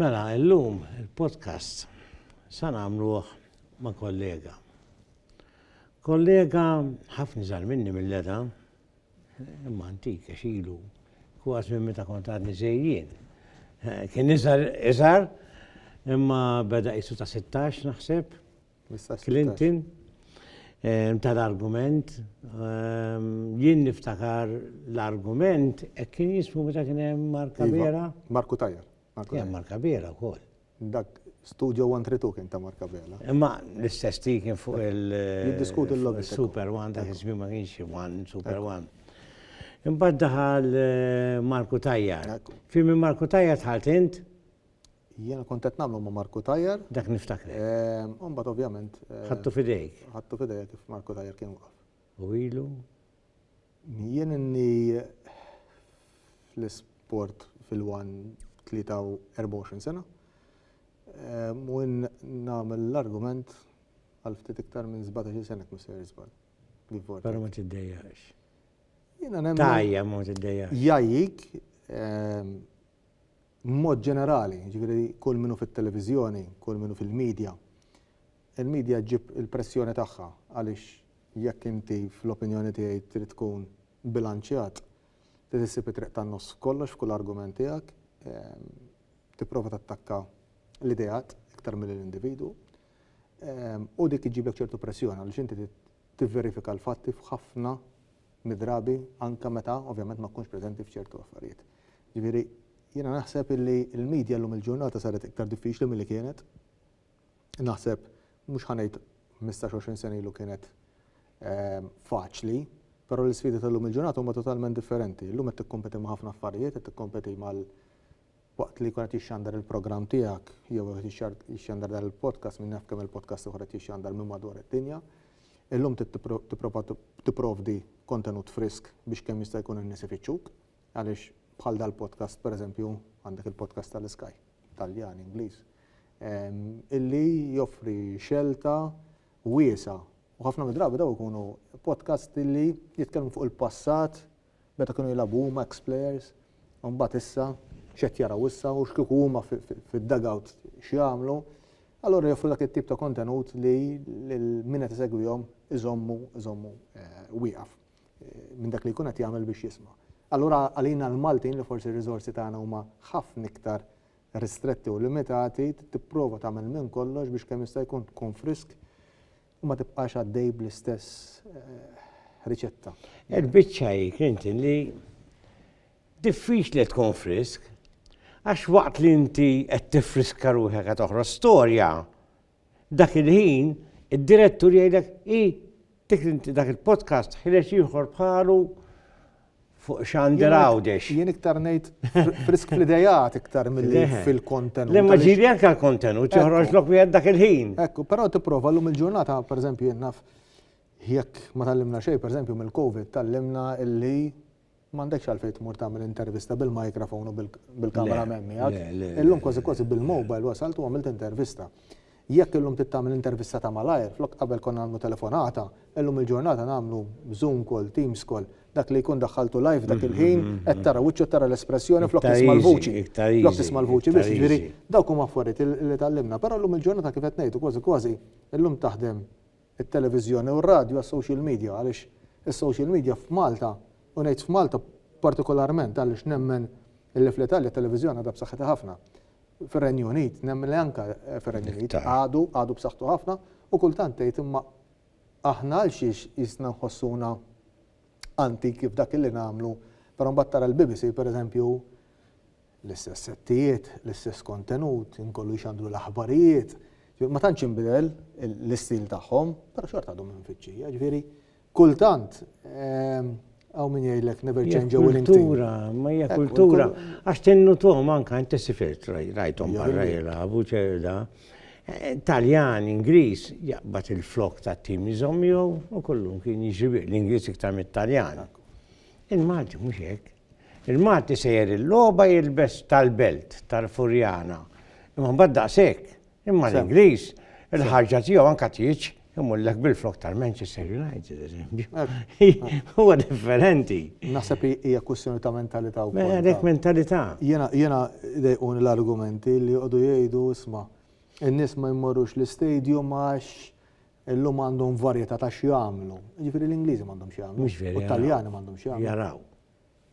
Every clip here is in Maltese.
Mela, illum il-podcast sa nagħmluh ma' kollega. Kollega ħafna żgħar minni mill-età, imma antik għax ilu kważi minn meta kont għadni żejjien. Kien iżgħar iżgħar imma beda qisu ta' 16 naħseb. Clinton ta' l-argument, jien niftakar l-argument hekk kien jismu meta kien hemm Mark Abela. Mark Cutajar. Kien Mark Abela wkoll. Dak Studio 132 kien ta' Mark Abela. Imma l-istess ti kien fuq il- Jiddiskuti l-logħba. Super One dak iż-żmien ma kienx One, Super One. Imbagħad daħal Mark Cutajar. F'imien Mark Cutajar dħalt int? Jiena kont qed nagħmlu ma' Marku Tajjar. Dak niftakrek. U mbagħad ovvjament. Ħadtu f'idejk. Ħadtu f'idejja kif Marku Tajjar kien waqaf. U ilu? Jien inni fl-isport fil-wan 23 sena. U nagħmel l-argument għal ftit iktar minn 17-il sena jekk mhux sejjer żball. Però ma tiddejjaqx. Jiena nemmen. Tgħajja ma tiddejjaqx. Jgħajjik, b'mod ġenerali, jiġifieri kull min hu fit-televiżjoni, kull min hu fil-midja, il-midja ġġib il-pressjoni tagħha għaliex jekk inti fl-opinjoni tiegħi trid tkun bilanċjat, trid issib it-triq tan-nofs f'kollox f'kull argument tiegħek, tipprova tattakka l-ideat iktar milli l-individwu, u dik iġġiblek ċertu pressjoni għaliex inti trid tivverifika l-fatti f'ħafna mid-drabi anke meta ovvjament ma tkunx preżenti f'ċertu affarijiet. Jiġifieri, jiena naħseb illi l-media llum il-ġurnata saret iktar diffiċli milli kienet. Naħseb, mhux ħa ngħid ħmistax, għoxrin sena ilu kienet faċli, però l-isfidi tal-lum il-ġurnata huma totalment differenti. Illum qed tikkompeti ma' ħafna affarijiet, qed tikkompeti mal waqt li jkun qed jixxandar il-programm tiegħek jew qed jixxandar dan il-podcast, min jaf kemm il-podcast ieħor qed jixxandar minn madwar id-dinja. Illum trid tipprova tipprovdi kontenut frisk biex kemm jista' jkun in-nies ifittxuk. Għaliex bħal dal-podcast, per eżempju, għandek il-podcast tal-Sky, Taljan, Ingliż, illi joffri xelta wiesa' u ħafna mid-drabi daw ikunu podcast illi jitkellmu fuq il-passat meta kienu jilagħbu huma ex-players, u mbagħad issa x'qed jaraw issa u x'kieku huma fid-dugout x'jagħmlu. Allura joffru dak it-tip ta' kontenut li min qed isegwihom iżommu iżommu eh, wieqaf. minn dak li jkun qed jagħmel biex jisma'. Allura għalina l-Maltin li forsi r-riżorsi tagħna huma ħafna iktar ristretti u limitati, tipprova tagħmel minn kollox biex kemm jista' jkun tkun frisk u ma tibqax għaddej bl-istess eh, riċetta. Il-biċċa hi Clinton li diffiċli tkun frisk għax waqt li inti qed tifriska ruħek qed toħroġ storja, Dak il-ħin, id-direttur jgħidlek, i, dik l-inti dak il-podcast ħireġ ieħor bħalu fuq xander għawdex. Jien iktar ngħid frisk fl-idejat iktar mill-li fil-kontenut. Le ma ġiri anke l-kontenut, joħroġ lok wieħed dak il-ħin. Ekku, però tipprova llum il-ġurnata, pereżempju, jien naf jekk ma tallimna xejn, pereżempju mill-COVID, tallimna illi M'għandekx għalfejn tmur tagħmel intervista bil-microphone u bil-camera man miegħek. Illum kważi kważi bil-mobile wasalt u għamilt intervista. Jekk illum trid tagħmel intervista ta' malajr, flok qabel konna nagħmlu telefonata, illum il-ġurnata nagħmlu zoom call, teams call. Dak li jkun daħħaltu live dak il-ħin, qed tara wiċċu, qed tara l-espressjoni flok tisma' l-vuċi. Flok tisma' l-vuċi biss. Jiġifieri dawk huma affarijiet li tgħallimna. Però llum il-ġurnata kif qed ngħidu kważi kważi illum taħdem it-televiżjoni u r-radju għas-social media għaliex is-social media f'Malta, u ngħid f'Malta partikolarment għaliex nemmen illi fl-Italja t-televiżjoni għadha b'saħħitha ħafna, fir-Renju Unit, nemmen li anke fir-Renju Unit għadu, għadu b'saħħtu ħafna u kultant tgħid imma aħna għalxiex qisna nħossuna antiki f'dak illi nagħmlu, però mbagħad tara l-BBC pereżempju, L-istess settijiet, l-istess kontenut, inkollu jxandru l-aħbarijiet. Ma tantx inbidel l-istil tagħhom, però xorta għadhom mfittxija. Ġifieri, kultant ehm, għaw min jgħidlek never change a winning team. Kultura, ma hija kultura. Għax tennu tom anka inti sifirt rajtom barra jilagħbu ċerda. Eh, Taljan, Ingliż, jaqbad il-flok ta' tim iżom jew u kollum kien jiġri l-Ingliż iktar mit-Taljan. Il-Malti mhux hekk. Il-Malti sejjer il-logħba jilbes tal-belt, tal-Furjana, imma mbagħad daqshekk. Imma l-Ingliż, il-ħarġa tiegħu anke tieġ imullek bil-flokk tal-Manchester United, eżempju. Huwa differenti. Naħseb hija kwistjoni ta' mentalità wkoll. Mela, għalhekk mentalità. Jiena jiena dejquni l-argumenti li jqogħdu jgħidu isma' in-nies ma jmorrux l-istadium għax Illum għandhom varjetà ta' x'jagħmlu. Jiġifieri l-Ingliżi m'għandhomx x'jagħmlu. Mhux vera. U t-Taljani m'għandhomx x'jagħmlu. Jaraw.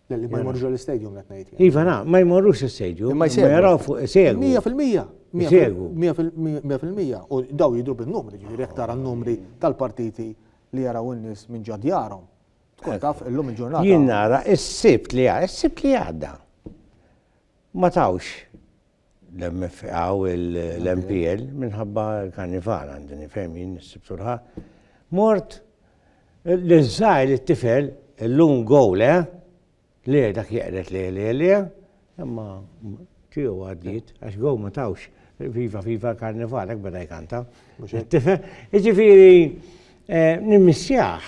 Le li ma jmorrux għall-istadium qed ngħid. Iva na, ma jmorrux l-istadium. Imma jsegwu. Ma jaraw fuq isegwu. Mija fil-mija. Isegwu. Mija fil-mija. U daw jidhru bin-numri, jiġifieri jekk tara n-numri tal-partiti li jaraw in-nies minn ġo djarhom. Tkun taf illum il-ġurnata. Jien nara s-Sibt li għadda. Ma tawx l-MFA u l-MPL minħabba l-karnival għandi nifhem jien issib surħa. Mort l-żgħir it-tifel l-lum gowl eh? Le dak jeqret le le le imma tiegħu għaddiet għax gow ma tawx viva viva karnival hekk beda jkanta. Tifel, jiġifieri eh, nimmissjaħ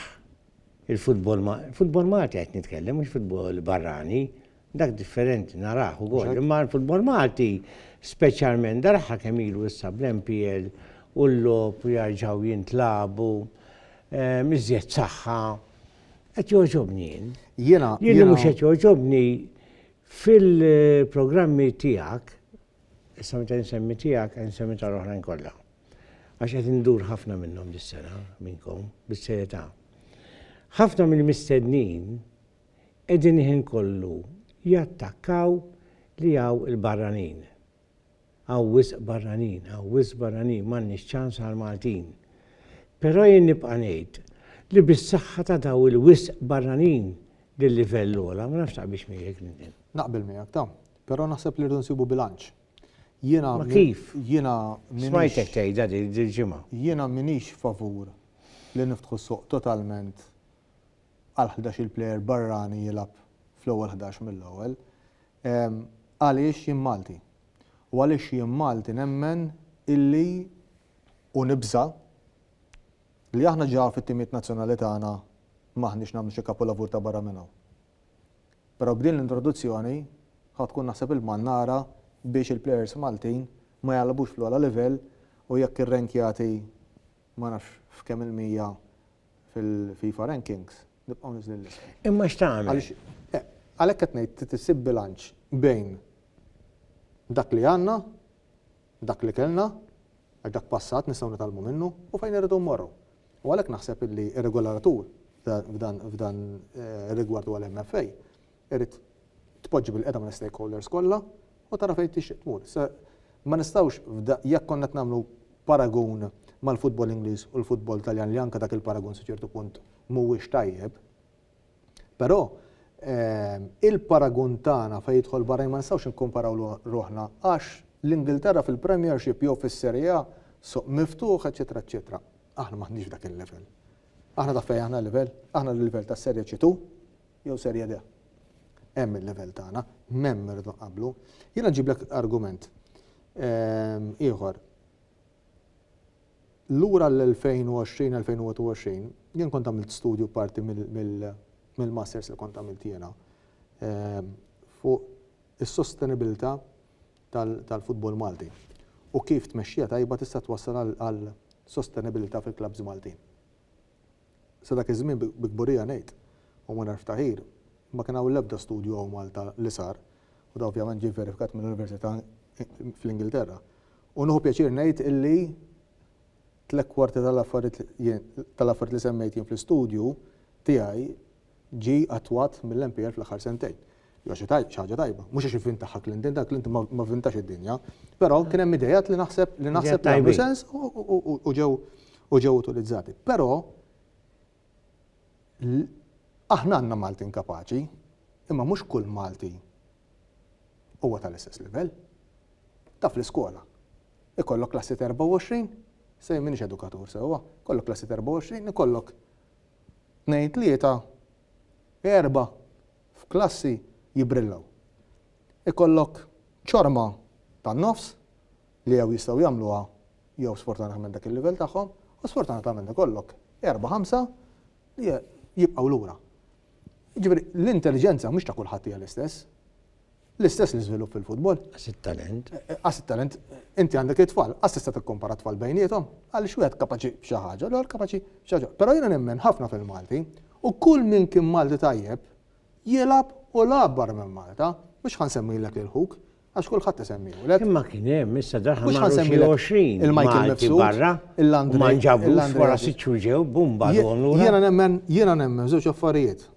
il-futbol ma futbol Malti qed nitkellem mhux futbol barrani Dak differenti narah ukoll, imma l-futbol Malti speċjalment daraha kemm ilu issa bl-MPL u l-logħob u jarġgħu jintlagħbu miżjed saħħa qed jogħġobni jien. Jiena Jien li mhux qed jogħġobni fil-programmi tiegħek, issa meta nsemmi tiegħek qed nsemmi tal-oħrajn kollha. Għax qed indur ħafna minnhom dis-sena minnkom bis-serjetà. Ħafna mill-mistednin qegħdin il-ħin kollu jattakkaw li hawn il-barranin. Hawn wisq barranin, hawn wisq barranin, m'għandniex ċans għall-Maltin. Però jien nibqa' ngħid li bis-saħħa ta' dawn il-wisq barranin li l-livell għola, ma nafx taqbilx miegħi Clinton. Naqbel miegħek ta', però naħseb li rridu nsibu bilanċ. Jiena Ma kif? Jiena Smajtek tgħidha din il-ġimgħa. Jiena minix favur li niftħu suq totalment għal ħdax-il plejer barrani jilgħab fl-ewwel ħdax mill-ewwel. Għaliex jien Malti. U għaliex jien Malti nemmen illi u nibża' li aħna ġa fit-timijiet nazzjonali tagħna m'aħniex nagħmlu xi kapulavur ta' barra minn hawn. Però b'din l-introduzzjoni ħa tkun naħseb il-mannara biex il-plejers Maltin ma jgħallbux fl-ogħla livell u jekk ir-rank jagħti ma nafx f'kemm il-mija fil-FIFA rankings, nibqgħu niżlin l-isem. Imma x'tagħmel? Eh, għalhekk qed ngħid trid issib bilanċ bejn dak li għandna, dak li kellna, għax dak passat nistgħu nitalmu minnu u fejn irridu mmorru. U għalhekk naħseb illi ir-regolatur f'dan eh, rigward għal MFA irid tpoġġi bil-qiegħda mal-istakeholders kollha u tara fejn tixtieq tmur. Se ma nistgħux jekk konna qed nagħmlu paragun mal-futbol Ingliż u l-futbol Taljan li anke dak il-paragun sa ċertu punt mhuwiex tajjeb. Però il-paragun tagħna fejn jidħol barra ma nistgħux nikkumparaw ruħna għax l-Ingilterra fil-Premiership jew fis-Serie A suq miftuħ, eċċetera, eċċetera. Aħna m'aħniex dak il-level. Aħna taf fejn aħna l-level? Aħna l-level tas-Serie C2, jew Serie D. Hemm il-livell tagħna, m'hemm irridu nqabblu. Jiena nġiblek argument ieħor. Lura l-2020-2021, jien kont għamilt studju parti mill-masters li kont għamilt jiena fuq is-sostenibilità tal-futbol Malti u kif tmexxija tajba tista' twassal għal sostenibilità fil-klabbs Maltin. Sa dak iż-żmien, bi kburija ngħid, u mingħajr ftaħir, ma kien hawn l-ebda studju hawn Malta li sar, u dan ovvjament ġie vverifikat minn università fl-Ingilterra. U nieħu pjaċir ngħid illi tliet kwarti tal-affarijiet tal-affarijiet li semmejt jien fl-istudju tiegħi ġie attwat mill-MPL fl-aħħar sentejn. Hija xi ħaġa tajba. Mhux għax ivvintaha Clinton, dan Clinton ma vvintax id-dinja. Però kien hemm ideat li naħseb li naħseb li għamlu sens u ġew u ġew utilizzati. Però aħna għandna Maltin kapaċi, imma mhux kull Malti huwa tal-istess livell. Taf l-iskola. Ikollok klassi 24, se minix edukatur sewwa, kollok klassi 24, ikollok Tnejn tlieta erba' f'klassi jibbrillaw. Ikollok ċorma tan-nofs li jew jistgħu jagħmluha jew sfortunatament dak il-livell tagħhom u sfortunatament ikollok erba' ħamsa li jibqgħu lura. Jiġifieri l-intelliġenza mhux ta' kulħadd hija l-istess. L-istess l-iżvilupp fil-futbol. Qas it-talent. Qas it-talent, inti għandek it-tfal, qas tista' tikkompara t-tfal bejniethom, għaliex wieħed kapaċi b'xi ħaġa, l-ieħor kapaċi b'xi ħaġa. Però jiena nemmen ħafna fil-Malti u kull min kien Malti tajjeb jilgħab u lagħab barra minn Malta, mhux ħa nsemmilek lil ħuk, għax kulħadd isemmihulek. Imma kien hemm issa daħal ma' 20 il-Michael Mifsud barra, il-Landri. Ma nġabu wara sitt xhur ġew bumba donu. Jiena nemmen, jiena nemmen żewġ affarijiet.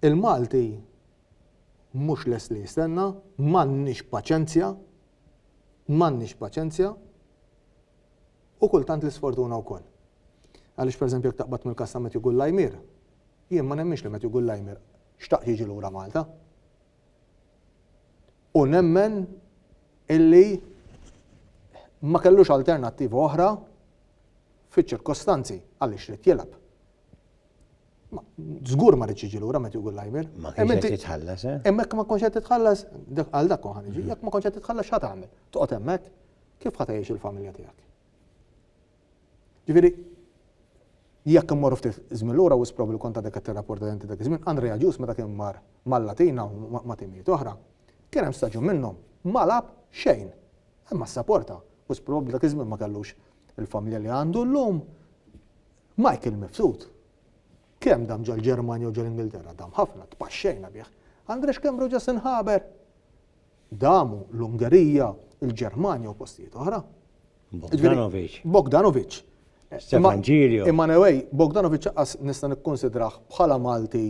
Il-Malti mhux lest li jistenna, m'għandniex paċenzja, m'għandniex paċenzja u kultant l-isfortuna wkoll. Għaliex pereżempju jekk taqbad mill-każ ta' Matthew Gullajmier, jien ma nemminx li Matthew Gullajmier xtaq jiġi lura Malta. U nemmen illi ma kellux alternattiva oħra fiċ-ċirkostanzi għaliex ried jilgħab. Zgur ma rridx iġi lura meta jgħu l-lajmer. Ma kienx qed titħallas, eh? Hemmhekk ma konx qed titħallas, għal dak kon ħan iġi, jekk ma konx qed titħallas x'ħa tagħmel? Toqgħod hemmhekk? Kif ħa tgħix il-familja tiegħek? Ġifieri, jekk immorru ftit żmien lura wis probabbli kont għadek qed tirrapporta denti dak iż-żmien, Andrea Ġus meta kien mar mal-Latina u ma' timijiet oħra, kien hemm staġun minnhom ma lagħab xejn. Imma saporta, wis probabbli dak iż-żmien ma kellux il-familja li għandu llum. Michael mibsut. Kemm dam ġol-Ġermanja u ġol-Ingilterra, dam ħafna, tpaxxejna bih. Andre x'kemm reġa' se nħaber? Damu l-Ungerija, il-Ġermanja u postijiet oħra. Bogdanovic. Bogdanovic. Stefan Ġilio. Imma anyway, Bogdanovic qas nista' nikkonsidrah bħala Malti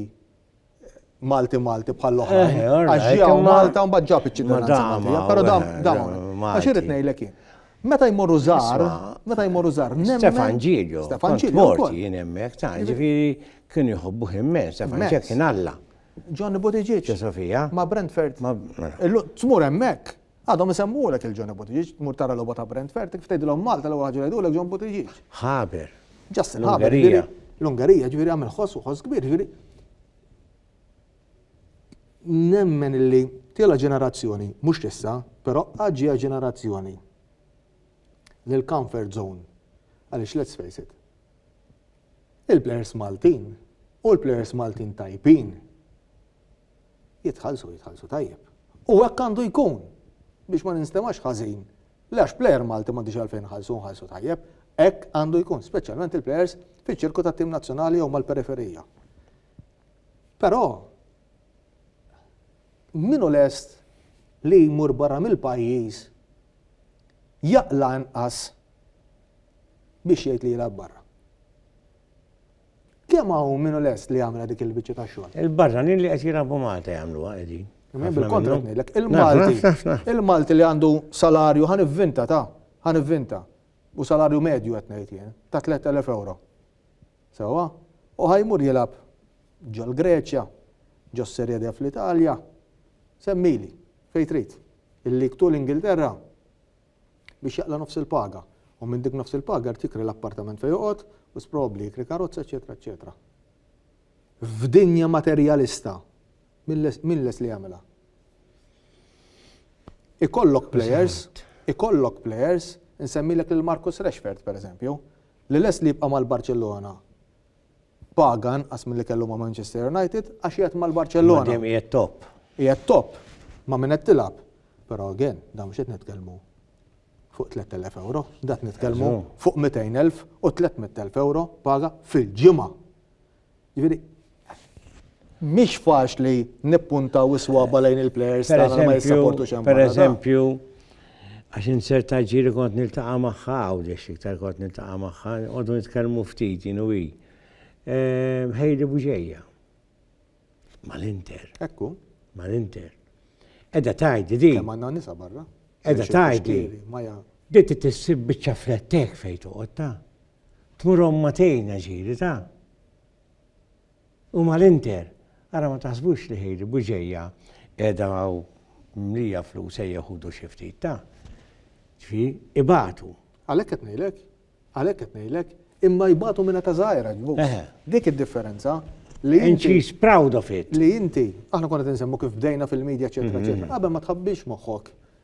Malti Malti bħal oħrajn. Eh, Għax ġew Malta u mbagħad ġab iċ-ċittadinanza Maltija. Però dam dam. Għax irid ngħidlek jien. Meta jmorru żgħar, meta jmorru żgħar, nemmen. Stefan Ġilju. Stefan Ġilju. Morti jien hemmhekk ta' ġifieri kien jħobbu immen, Stefan Ġilju kien Alla. Johnny Buttigieg. Sofija. Ma' Brentford. Mela. Tmur hemmhekk. Għadhom isemmuhulek lil Johnny Buttigieg, tmur tara logħba ta' Brent Fertig, ftgħidilhom Malta l-ewwel ħaġa li jgħidulek John Buttigieg. Haber. Justin Haber, ġifieri l-Ungerija, ġifieri għamel ħoss u ħoss kbir, ġifieri nemmen illi tiela ġenerazzjoni, mhux issa, però għaġġija ġenerazzjoni lil comfort zone. Għaliex let's face it. Il-players Maltin u l-players Maltin tajpin Jitħallsu, jitħallsu tajjeb. U hekk għandu jkun biex ma ninstemax ħażin. Le għax plejer Malti m'għandix għalfejn nħallsu nħallsu tajjeb. Hekk għandu jkun, speċjalment il-plejers fiċ-ċirku tat-tim nazzjonali jew mal-periferija. Però minu lest li jmur barra mill-pajjiż jaqla' inqas biex jgħid li jilgħab barra. Kemm hawn min hu lest li jagħmilha dik il-biċċa ta' xogħol? Il-barranin li qed jilagħbu Malta jagħmluha qegħdin. Bil-kontra ngħidlek, il-Malti, il-Malti li għandu salarju ħan ivvinta ta' ħan ivvinta. U salarju medju qed ngħid jien, ta' 3000 euro. Sewwa? U ħajmur jilgħab ġol-Greċja, ġos-Serje D fl-Italja, semmili, fejn trid. Il-lig tul Ingilterra, biex jaqla' nofs il-paga u minn dik nofs il-paga jrid jikri l-appartament fejn joqgħod, wis probabbli jikri karozza eċċetera eċċetera. F'dinja materjalista min lest li jagħmilha? Ikollok players, ikollok players, insemmilek lil Marcus Rashford pereżempju, li lest li jibqa' mal-Barċellona paga inqas milli kellu ma' Manchester United għax qiegħed mal-Barċellona. Dejjem qiegħed top. Qiegħed top ma' min qed tilgħab. Però again, da mhux qed nitkellmu fuq 3000 euro, dat nitkellmu fuq 200,000 u 300,000 euro paga fil-ġimgħa. Jiġifieri Mhix faċli nippuntaw is-swaba lejn il-plejers tagħna li ma jissapportux hemm barra. Pereżempju, għax insert aġiri kont niltaqa' magħha Għawdex iktar kont niltaqa' magħha, nqogħdu nitkellmu ftit jien u hi. Hailey Buġeja. Mal-Inter. Ekku. Mal-Inter. Edha tgħidli din. Kemm għandna nisa barra. Edha tgħidli. Dit tissib biċċa flettek fejn toqgħod ta. Tmur omma tgħinha ġiri ta. U mal-Inter, ara ma taħsbux li hi li Bugeja qiegħda hawn mlija flus ejja ħudu xi ftit ta'. Ġifi, ibatu. Għalhekk qed ngħidlek, għalhekk qed ngħidlek, imma jbatu minna ta' żgħira ġbu. Dik id-differenza li And she's proud of it. Li inti, aħna konna tinsemmu kif bdejna fil-medja ċetra ċetra, qabel ma tħabbix moħħok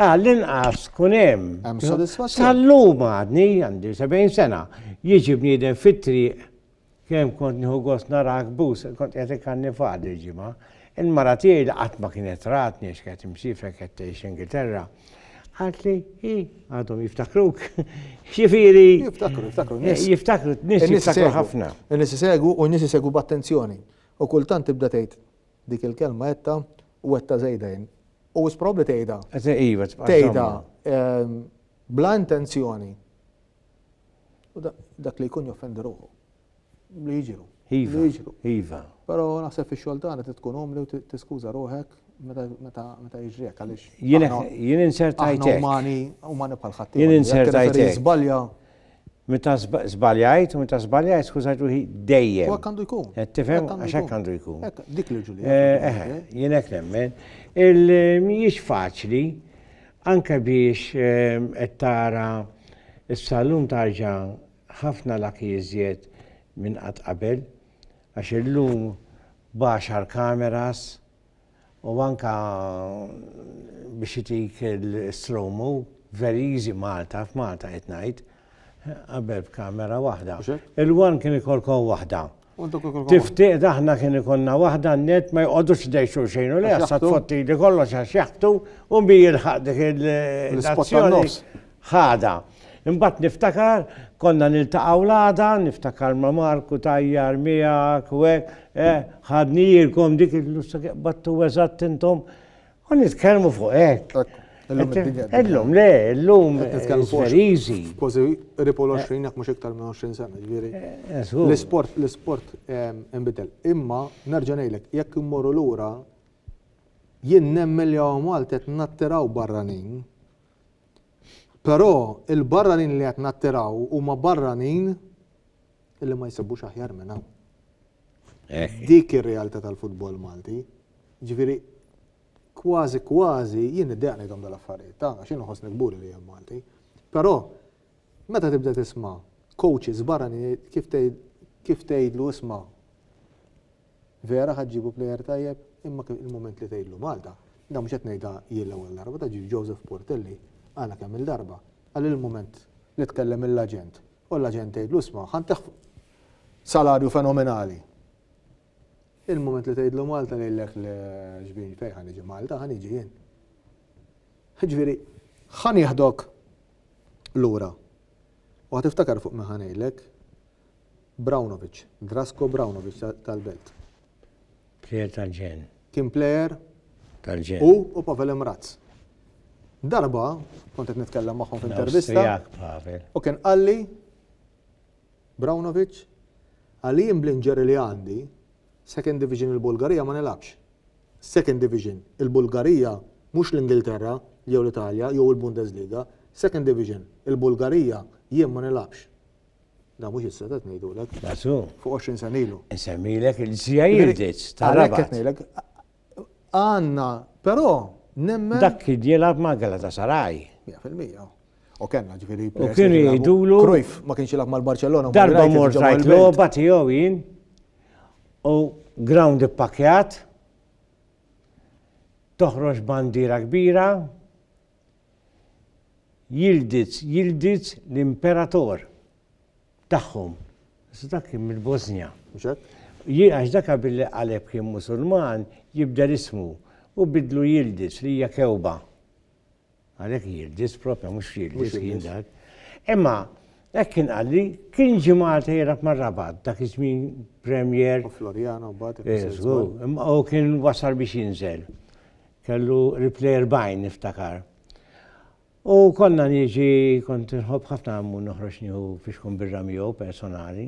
Għall-inqas kun hemm. Hemm sodisfazzjon. Sal-lum għadni għandi 70 sena. Jiġi bniedem fit-triq kemm kont nieħu gost narak bus, kont qed ikanni faqad il-ġimgħa. Il-mara tiegħi li qatt ma kienet ratni għax kienet imsiefer kienet tgħix Ingilterra, għaltli hi għadhom jiftakruk. Xifieri. Jiftakru, jiftakru. Jiftakru, nis jiftakru ħafna. Nis isegwu u nis isegwu b'attenzjoni. U kultant tibda tgħid Dik il-kelma għedtha u għedtha żejda jien. U wis probabbli tgħidha. Iva, tgħidha ehm, bla intenzjoni. U dak li jkun joffendi ruħu. Li jiġru. Iva. Iva. Però naħseb fix-xogħol tagħna tkun omli u tiskuża ruħek meta jiġrek għaliex. Jien insertajtek. Umani, umani bħal ħadd. Jien insertajtek. Żbalja. Meta żbaljajt, meta żbaljajt, skużajt ruħi dejjem. U hekk għandu jkun. Qed tifhem għax hekk għandu jkun. Dik l-irġuli. Eh, eh, eh, jien hekk nemmen. Il-mhijiex faċli anke biex ehm, qed tara s-salum tarġa' ħafna lak jiżjed minn qatt qabel għax illum baxar kameras u anka biex itik il-stromu very easy Malta f'Malta qed ngħid qabel b'kamera waħda. Il-one kien ikolkom waħda. Tiftiq aħna kien ikolna waħda net ma jqogħdux dej xulxejn u li għassa tfotti li kollox għax jaħtu u mbi jilħaq dik il-istazzjoni. Ghada. Imbagħad niftakar konna niltaqgħu l-għada, niftakar ma' Marku tajjar miegħek u hekk, eh, ħadni jirkom dik il-lussa qbadtu eżatt intom. U nitkellmu fuq hekk. Illum le, illum very easy. Kważi ripol 20 jekk mhux iktar minn 20 sena, ġifieri. L-isport, l-isport inbidel. Imma nerġa' ngħidlek, jekk immorru lura, jien nemmen li hawn Malta qed nattiraw barranin Però il-barranin li qed nattiraw huma barranin li ma jsibbux aħjar minn hawn. Dik ir-realtà tal-futbol Malti. Ġifieri kważi kważi jien niddeq ngħidhom dal-affarijiet ta' għax jien nħossni kburi li jien Malti. Però meta tibda tisma' coaches barranin kif tgħidlu isma' Vera ħa ġġibu plejer tajjeb, imma kien il-mument li tgħidlu Malta. Dan mhux qed ngħidha jien l-ewwel darba, ta' ġie Joseph Portelli qalha kemm-il darba. Qal il-mument li tkellem mill-aġent u l-aġent tgħidlu isma' ħa ntih salarju fenomenali. Il-mument li tgħidlu Malta ngħidlek le xbin fejn ħa niġi Malta, ħa niġi jien. Jiġifieri ħa nieħdok lura u ħa tiftakar fuq min ħa ngħidlek, Braunovic, Drasko Braunovic tal-Belt. Plejer tal-ġenn. Kien plejer. Tal-ġenn. Hu u Pavel Mraz. Darba, kont qed nitkellem magħhom f'intervista. U kien qalli Braunovic, għalli jien bl-inġeri li għandi, Second Division il-Bulgarija ma nilabx. Second Division il-Bulgarija mhux l-Ingilterra jew l-Italja jew il-Bundesliga, Second Division il-Bulgarija jien ma nilabx. Da mhux issa qed ngħidulek. Nasu. Fuq 20 sena ilu. Insemmilek il-ġsija jirġiġ. Għalhekk qed ngħidlek. Għandna, però nemmen. Dak kien jilgħab ma' Galatasaray. 100%. U kellna ġifieri. U kien jgħidulu. Krujf ma kienx jilgħab mal-Barcellona. Darba mort rajt logħba tiegħu jien. U ground ippakjat. Toħroġ bandira kbira. Yildiz, Yildiz l-imperator tagħhom. Iżda dak kien mill-Bożnja. Mhux hekk? Ji- Għax dak qabel li qaleb kien Musulman, jibdel ismu u bidlu Yildiz li hija kewba. Għalhekk Yildiz propja mhux Mhux Yildiz kien Yildiz. dak. Imma hekk kien qalli, kien ġie Malta jilgħab mar-Rabat dak iż-żmien Premier U Floriana mbagħad. Eh, żgur, imma u kien wasal biex jinżel. Kellu Ripley 40 niftakar. U konna niġi kont inħobb ħafna għammu noħroġ nieħu fixkun birra miegħu personali.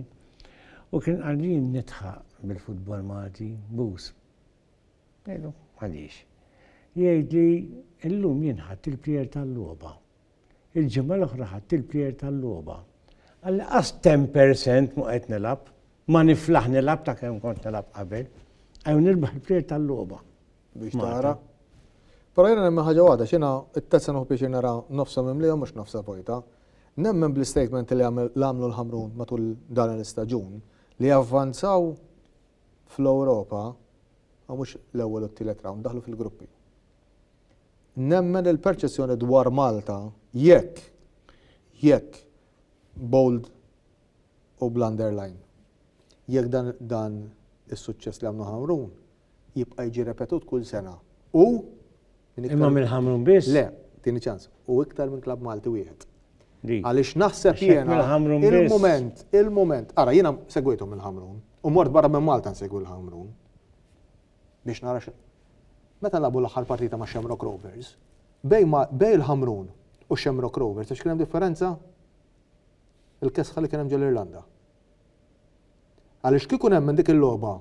U kien għalin nitħaq bil-futbol Malti, bus. Għaliex? Jgħidli illum jinħatt il-plier tal-logħba. Il-ġimgħa l-oħra ħadt il-plejer tal-logħba. Anqas 10 per cent ma qed nilgħab, ma niflaħ nilgħab ta' kemm kont nilgħab qabel. Ejjew nirbaħ il-plejer tal-logħba. Biex tara. Però jiena nemmen ħaġa waħda, x'jiena t-test se nieħu pjaċir nara nofsa mimlija mhux nofsa vojta. Nemmen bl-istatement li għamlu l-Ħamrun matul dan l-istaġun li javvanzaw fl-Ewropa, mhux l-ewwel u t-tielet round, daħlu fil-gruppi. Nemmen li l-perċezzjoni dwar Malta, jekk, jekk, bold u bl-underline, jekk dan, dan is-suċċess li għamlu Ħamrun jibqa' jiġi repetut kull sena u minn iktar. Imma minn Ħamrun biss? Le, tieni ċans, u iktar minn klabb Malti wieħed. Għaliex naħseb jiena il-mument, il-mument, ara jiena segwejthom il-Ħamrun u mort barra minn Malta nsegwi l-Ħamrun. biex nara xi. Meta lagħbu l-aħħar partita ma' Shamrock Rovers, bejn ma bejn il-Ħamrun u Shamrock Rovers taf x'kien hemm differenza? Il-kesħa li kien hemm ġol-Irlanda. Għaliex kieku nemmen dik il-logħba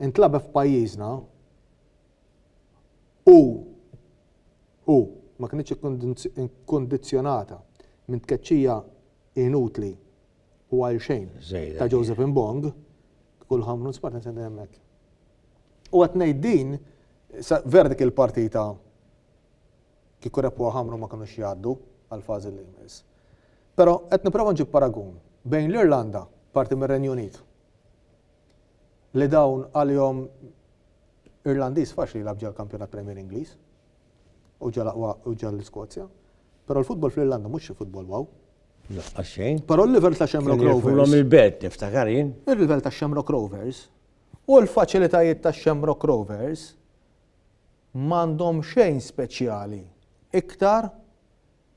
intlagħbet f'pajjiżna u u ma kinitx ikkondizzjonata minn tkeċċija inutli u għal xejn ta' Joseph Mbong, kull ħamrun spart nsendi hemmhekk. U qed ngħid din vera dik il-partita kieku repu ħamru ma kinux jgħaddu għal fażi li jmiss. Però qed nipprova nġib paragun bejn l-Irlanda, parti mir-Renju Unit, li dawn għalihom Irlandiż faċli jilgħab ġol kampjonat Premier Ingliż. u ġa l-aqwa u ġa l-Iskozja. Però l-futbol fl-Irlanda mhux xi futbol wow. Laqqas xejn. Però l-livell ta' Shamrock Rovers. Fulhom il-belt niftakar jien. Il-livell ta' Shamrock Rovers u l-faċilitajiet ta' Shamrock Rovers m'għandhom xejn speċjali iktar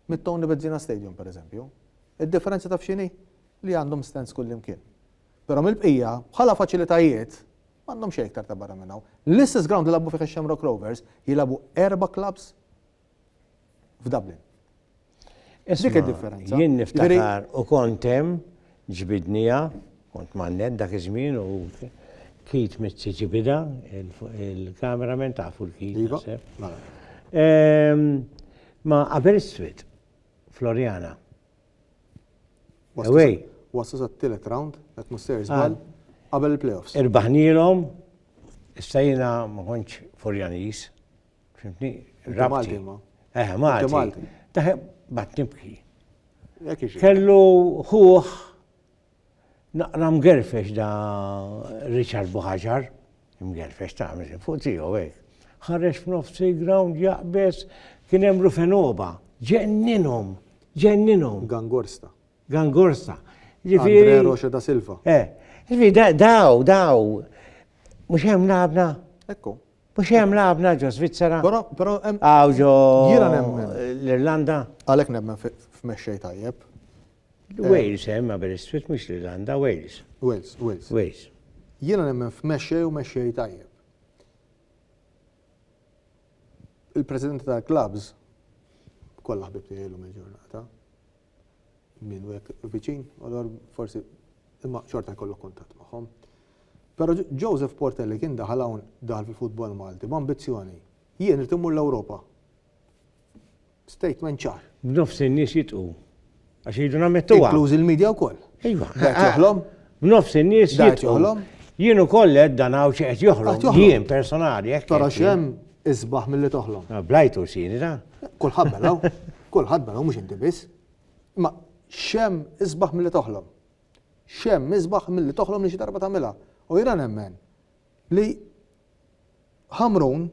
mit-Tony Bezzina Stadium pereżempju. Id-differenza taf x'inhi? Li għandhom stands kullimkien. Però mill-bqija bħala faċilitajiet M'għandhom xejn iktar ta' barra minn hawn. L-istess ground li lagħbu fih ix-Shamrock Rovers jilagħbu erba' clubs f'Dublin. Dik id-differenza. Jien niftakar u kont hemm ġbidnija, kont mannet dak iż-żmien u kit mitzi ġibida, il-kameraman tafu l-kit. Iva, mela. Ma' Aberystwyth, Floriana. Away. Waslu sat-tielet round, qed mhux ser żball, qabel il-playoffs. Irbaħnielhom, issa jiena ma kontx Furjanis. Fimtni? Malti ma. Eh, Malti. Taħe bat nibki. Kellu ħuħ Naqra mgerfex da Richard Buħaġar, imgerfex ta' miżin fuq tiegħu hekk. Ħareġ f'nofs il-ground jaqbeż kien hemm Rufenoba. Ġenninhom, ġenninhom. Gangorsta. Gangorsta. Andre Rocha da Silva. Eh, daw, daw. Mhux hemm labna. Ekku. Mux jem labna ġo Svizzera. Pero, pero, għaw ġo. Jira nemmen. L-Irlanda. Għalek nemmen f-mexxej tajjeb. Wales hemm Aberystwyth mhux l-Irlanda, Wales. Wales, Wales. Wales. Jiena nemmen f'mexxej u mexxej tajjeb. Il-presidenti tal-clubs kollha ħbib tiegħi llum il-ġurnata. Min u hekk viċin, allura forsi imma xorta jkollok kuntatt magħhom. Però Joseph Portelli kien daħal hawn daħal fil-futbol Malti b'ambizzjoni. Jien irid immur l-Ewropa. Statement ċar. B'nofs in-nies jitqu. Għax iridu nammettuha. Inklużi l-media wkoll. Iva. Dajt joħlom. B'nofs in-nies jitqu. Dajt joħlom. Jien ukoll qed dan hawn xi qed joħlom. Jien personali hekk. Tara x'hemm isbaħ milli toħlom. Ah, blajtu xini da. Kulħadd belaw. Kulħadd belaw mhux inti biss. Ma xem isbaħ milli toħlom. Xem isbaħ milli toħlom li xi darba tagħmilha. U jiena nemmen li Ħamrun,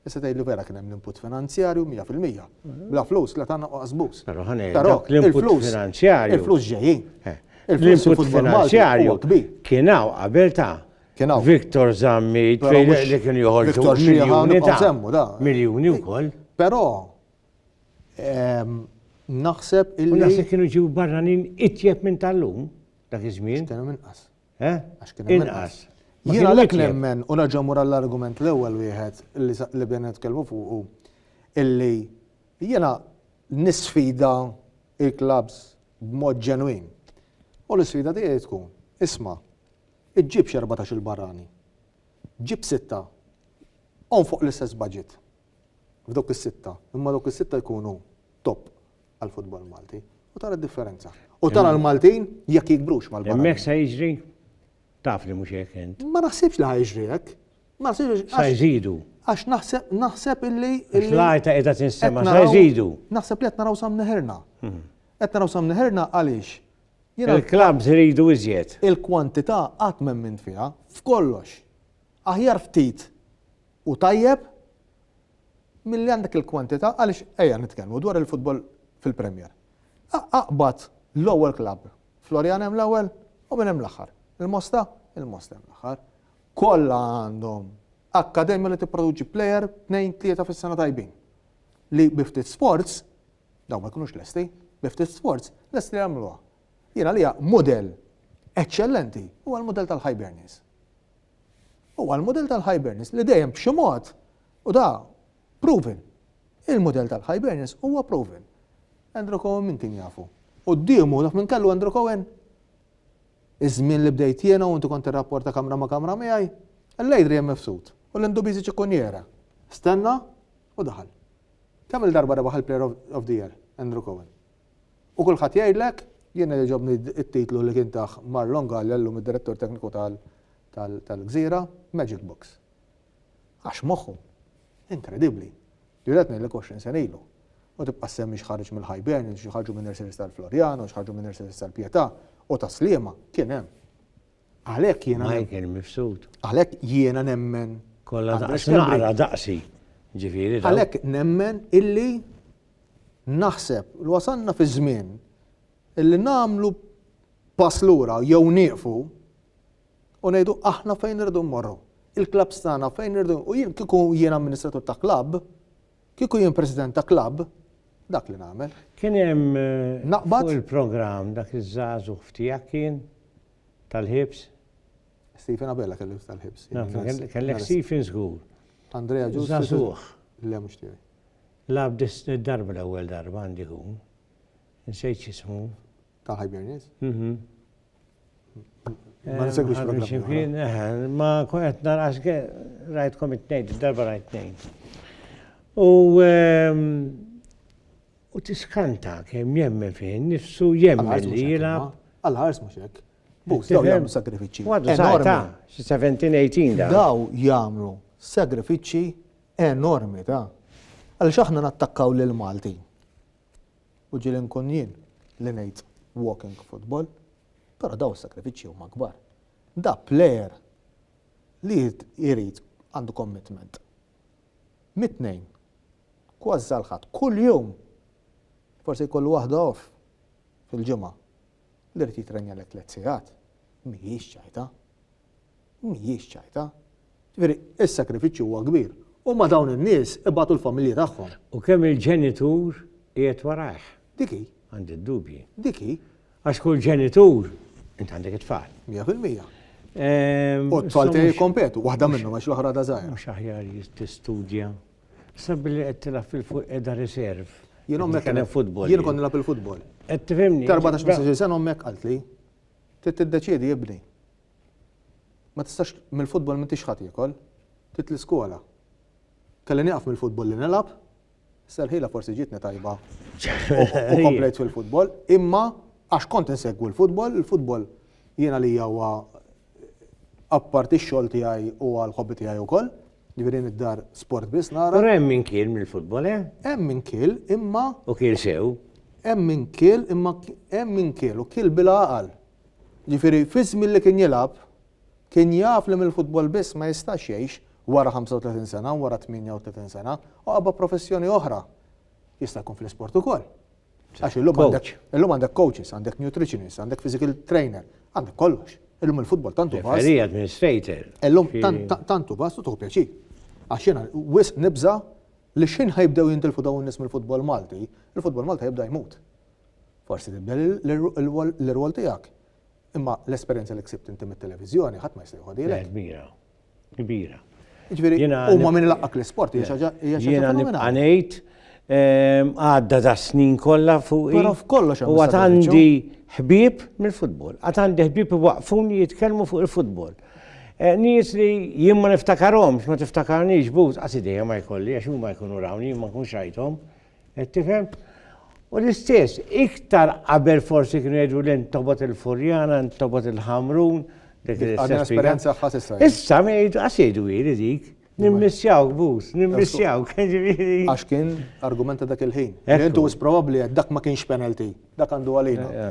Issa tgħidli vera kien hemm l-input finanzjarju 100%. Bla flus la tagħna u qasbus. Però ħanej, dawk l-input finanzjarju. Il-flus ġejjin. Eh, l-input finanzjarju kien hawn qabel ta' kien hawn. Victor Zammi, li kien joħorġu miljuni ta' miljuni wkoll. Però ehm, naħseb illi. Naħseb kienu ġew barranin itjeb minn tal-lum dak iż-żmien. Kienu minn qas. Eh? Għax kien hemm inqas. Jiena lek nemmen u nerġa' mur għall-argument l-ewwel wieħed li bdejna nitkellmu fuqu illi jiena nisfida il-klabs b'mod ġenwin. U l-isfida tiegħi tkun, isma, iġġib xerbatax il-barrani, ġib sitta, on fuq l-istess budget, f'dok is-sitta, imma dok is-sitta jkunu top għall-futbol Malti u tara d-differenza. U tara l-Maltin jekk jikbrux mal-Malti. Hemmhekk sa jiġri taf li mhux hekk int. Ma naħsibx li ħajġri hekk. Ma naħsibx sa jżidu. Għax naħseb naħseb illi. L-għajta qiegħda tinsema sa jżidu. Naħseb li qed naraw sam neħerna. Hmm. Qed naraw sam neħerna għaliex Il-klabs iridu iżjed. Il-kwantità qatt minn minn fiha f'kollox. Aħjar ftit u tajjeb Milli għandek il-kwantità għaliex ejja nitkellmu dwar il-futbol fil-Premier. Aqbad l-ewwel klabb. Floriana hemm l-ewwel u min hemm l-aħħar? Il-Mosta? Il-Mosta hemm l-aħħar. Kollha għandhom akkademja li tipproduċi plejer tnejn tlieta fis-sena tajbin. Li bi ftit sforz, dawn ma jkunux lesti, bi ftit sforz lesti li jagħmluha. Jien għalija mudell eċċellenti huwa l-mudell tal-Hibernians. Huwa l-mudell tal-Hibernians li dejjem b'xi mod u da proven. Il-mudell tal-Hibernians huwa proven. Andrew Cohen min kien jafu? U d-dimu dak minn kellu Andrew Cohen? Iż-żmien li bdejt jiena u inti kont tirrapporta kamra ma' kamra miegħi, l-Adrian Mifsud u l-Indubizi Ċikunjera. Stenna u daħal. Kemm il-darba rebaħ il-Player of the Year Andrew Cohen? U kulħadd jgħidlek, jiena jogħġobni t-titlu li kien tah Marlon Galea llum id-Direttur Tekniku tal-Gżira, Magic Box. Għax moħħu. Inkredibbli. Jien qed ngħidlek 20 sena ilu. U tibqa' ssemmi x'ħareġ mill-Hibernians, xi ħarġu minn nurseries tal-Floriana, xi ħarġu minn nurseries tal-Pietà u tas-Sliema, kien hemm. Għalhekk jiena. Michael Mifsud. Għalhekk jiena nemmen. Kollha daqsi. Ġifieri. Għalhekk nemmen illi Naħseb li wasalna fi żmien li nagħmlu pass lura jew nieqfu u ngħidu aħna fejn irridu mmorru. Il-klabbs tagħna fejn irridu u jien kieku jien amministratur ta' klabb, kieku jien president ta' klabb, dak li nagħmel. Kien hemm fuq il-programm dak iż-żagħżugħ f'tiegħek kien tal-ħibs? Stephen Abella kellu tal-ħibs. Kellek Stephen żgur. Andrea Ġużu. Żagħżugħ. Le mhux tiegħi. Lagħab disni darba l-ewwel darba għandi jkun. Nsejt x'ismu. Ta' Hibernians? Mhm. Ma nsegwix programm. Ma qed narqas rajtkom it-tnejn, darba rajt tnejn. U ehm, u tiskanta kemm jemmen fi nifsu jemmen li jilgħab. Għal-ħars mhux hekk. Bus, daw jagħmlu sagrifiċċji. Għadu sajta, 17-18 daw. Daw jagħmlu sagrifiċċji enormi ta' għaliex aħna nattakkaw lill-Maltin. U ġieli nkun jien li ngħid walking football, però dawn is-sagrifiċċji huma kbar. Da plejer li jrid għandu commitment. Mit-tnejn, kważi sal-Ħadd, kuljum forsi jkollu waħda off fil-ġimgħa li jrid jitrenja lek tliet sigħat, mhijiex ċajta. Mhijiex ċajta. Ġifieri, is-sagrifiċċju huwa kbir. Huma dawn in-nies ibatu l-familji tagħhom. U kemm il-ġenitur qiegħed warajh? Dik hi. Għandi d-dubji. Dik hi. Għax kull ġenitur, int għandek it-tfal. Mija fil-mija. U t-tfal tiegħi jikkompetu, waħda minnhom għax l-oħra da żgħira. Mhux aħjar tistudja. Sabbi li qed tilgħab fil-fuq qiegħda riserv. Jien ommek kien futbol. Jien kont nilgħab il-futbol. Qed tifhimni. Darba ta' xi sena ommek qaltli. Trid tiddeċiedi ibni. Ma tistax mill-futbol m'intix ħa tiekol. Trid l-iskola. Kelli nieqaf mill-futbol li nilgħab. Issa l-ħila forsi ġietni tajba u komplejt fil-futbol, imma għax kont insegwu l-futbol, il-futbol jiena li huwa apparti x-xogħol tiegħi u għall-ħobbi tiegħi wkoll. Ġifieri hemm id-dar sport biss nara. Però hemm min kiel mill-futbol, eh? Hemm min kiel, imma. U kiel sew. Hemm min kiel, imma hemm min kiel u kiel bil-għaqal. Ġifieri fi żmien li kien jilgħab, kien jaf li mill-futbol biss ma jistax jgħix wara 35 sena, wara 38 sena, u qabba professjoni oħra. Jista' jkun fl-isport ukoll. Għax illum għandek illum għandek coaches, għandek nutritionist, għandek physical trainer, għandek kollox. Illum il-futbol tantu bas. Referee administrator. Illum tantu bas u tuħu pjaċir. Għax jiena wisq nibża li x'ħin ħajbdew jintilfu dawn nies mill-futbol Malti, il-futbol Malti jibda jmut. Forsi tibda l-rwol tiegħek. Imma l-esperjenza li ksibt inti mit-televiżjoni ħadd ma jista' jħodilek. kbira. Ġifieri, huma minn laqqak l-isport, hija xaġa hija xaġa fenomenali. Ehm, għadda da snin kollha fuq. Però f'kollox U għad għandi ħbieb mill-futbol. Għad għandi ħbieb waqfuni jitkellmu fuq il-futbol. Eh, nies li jien ma niftakarhomx, ma tiftakarniex but, għas idejja ma jkolli, għax huma jkunu rawni, ma nkunx rajthom. Qed tifhem? U l-istess, iktar qabel forsi kienu jgħidu l tobot il-Furjana, tobot il-Ħamrun, dik l-esperjenza ħasissa. Issa ma jgħidu għax jgħidu jiri dik. Nimmissjaw bus, nimmissjaw. Għax kien argumenta dak il-ħin. Jentu is probabli dak ma kienx penalty, dak għandu għalina.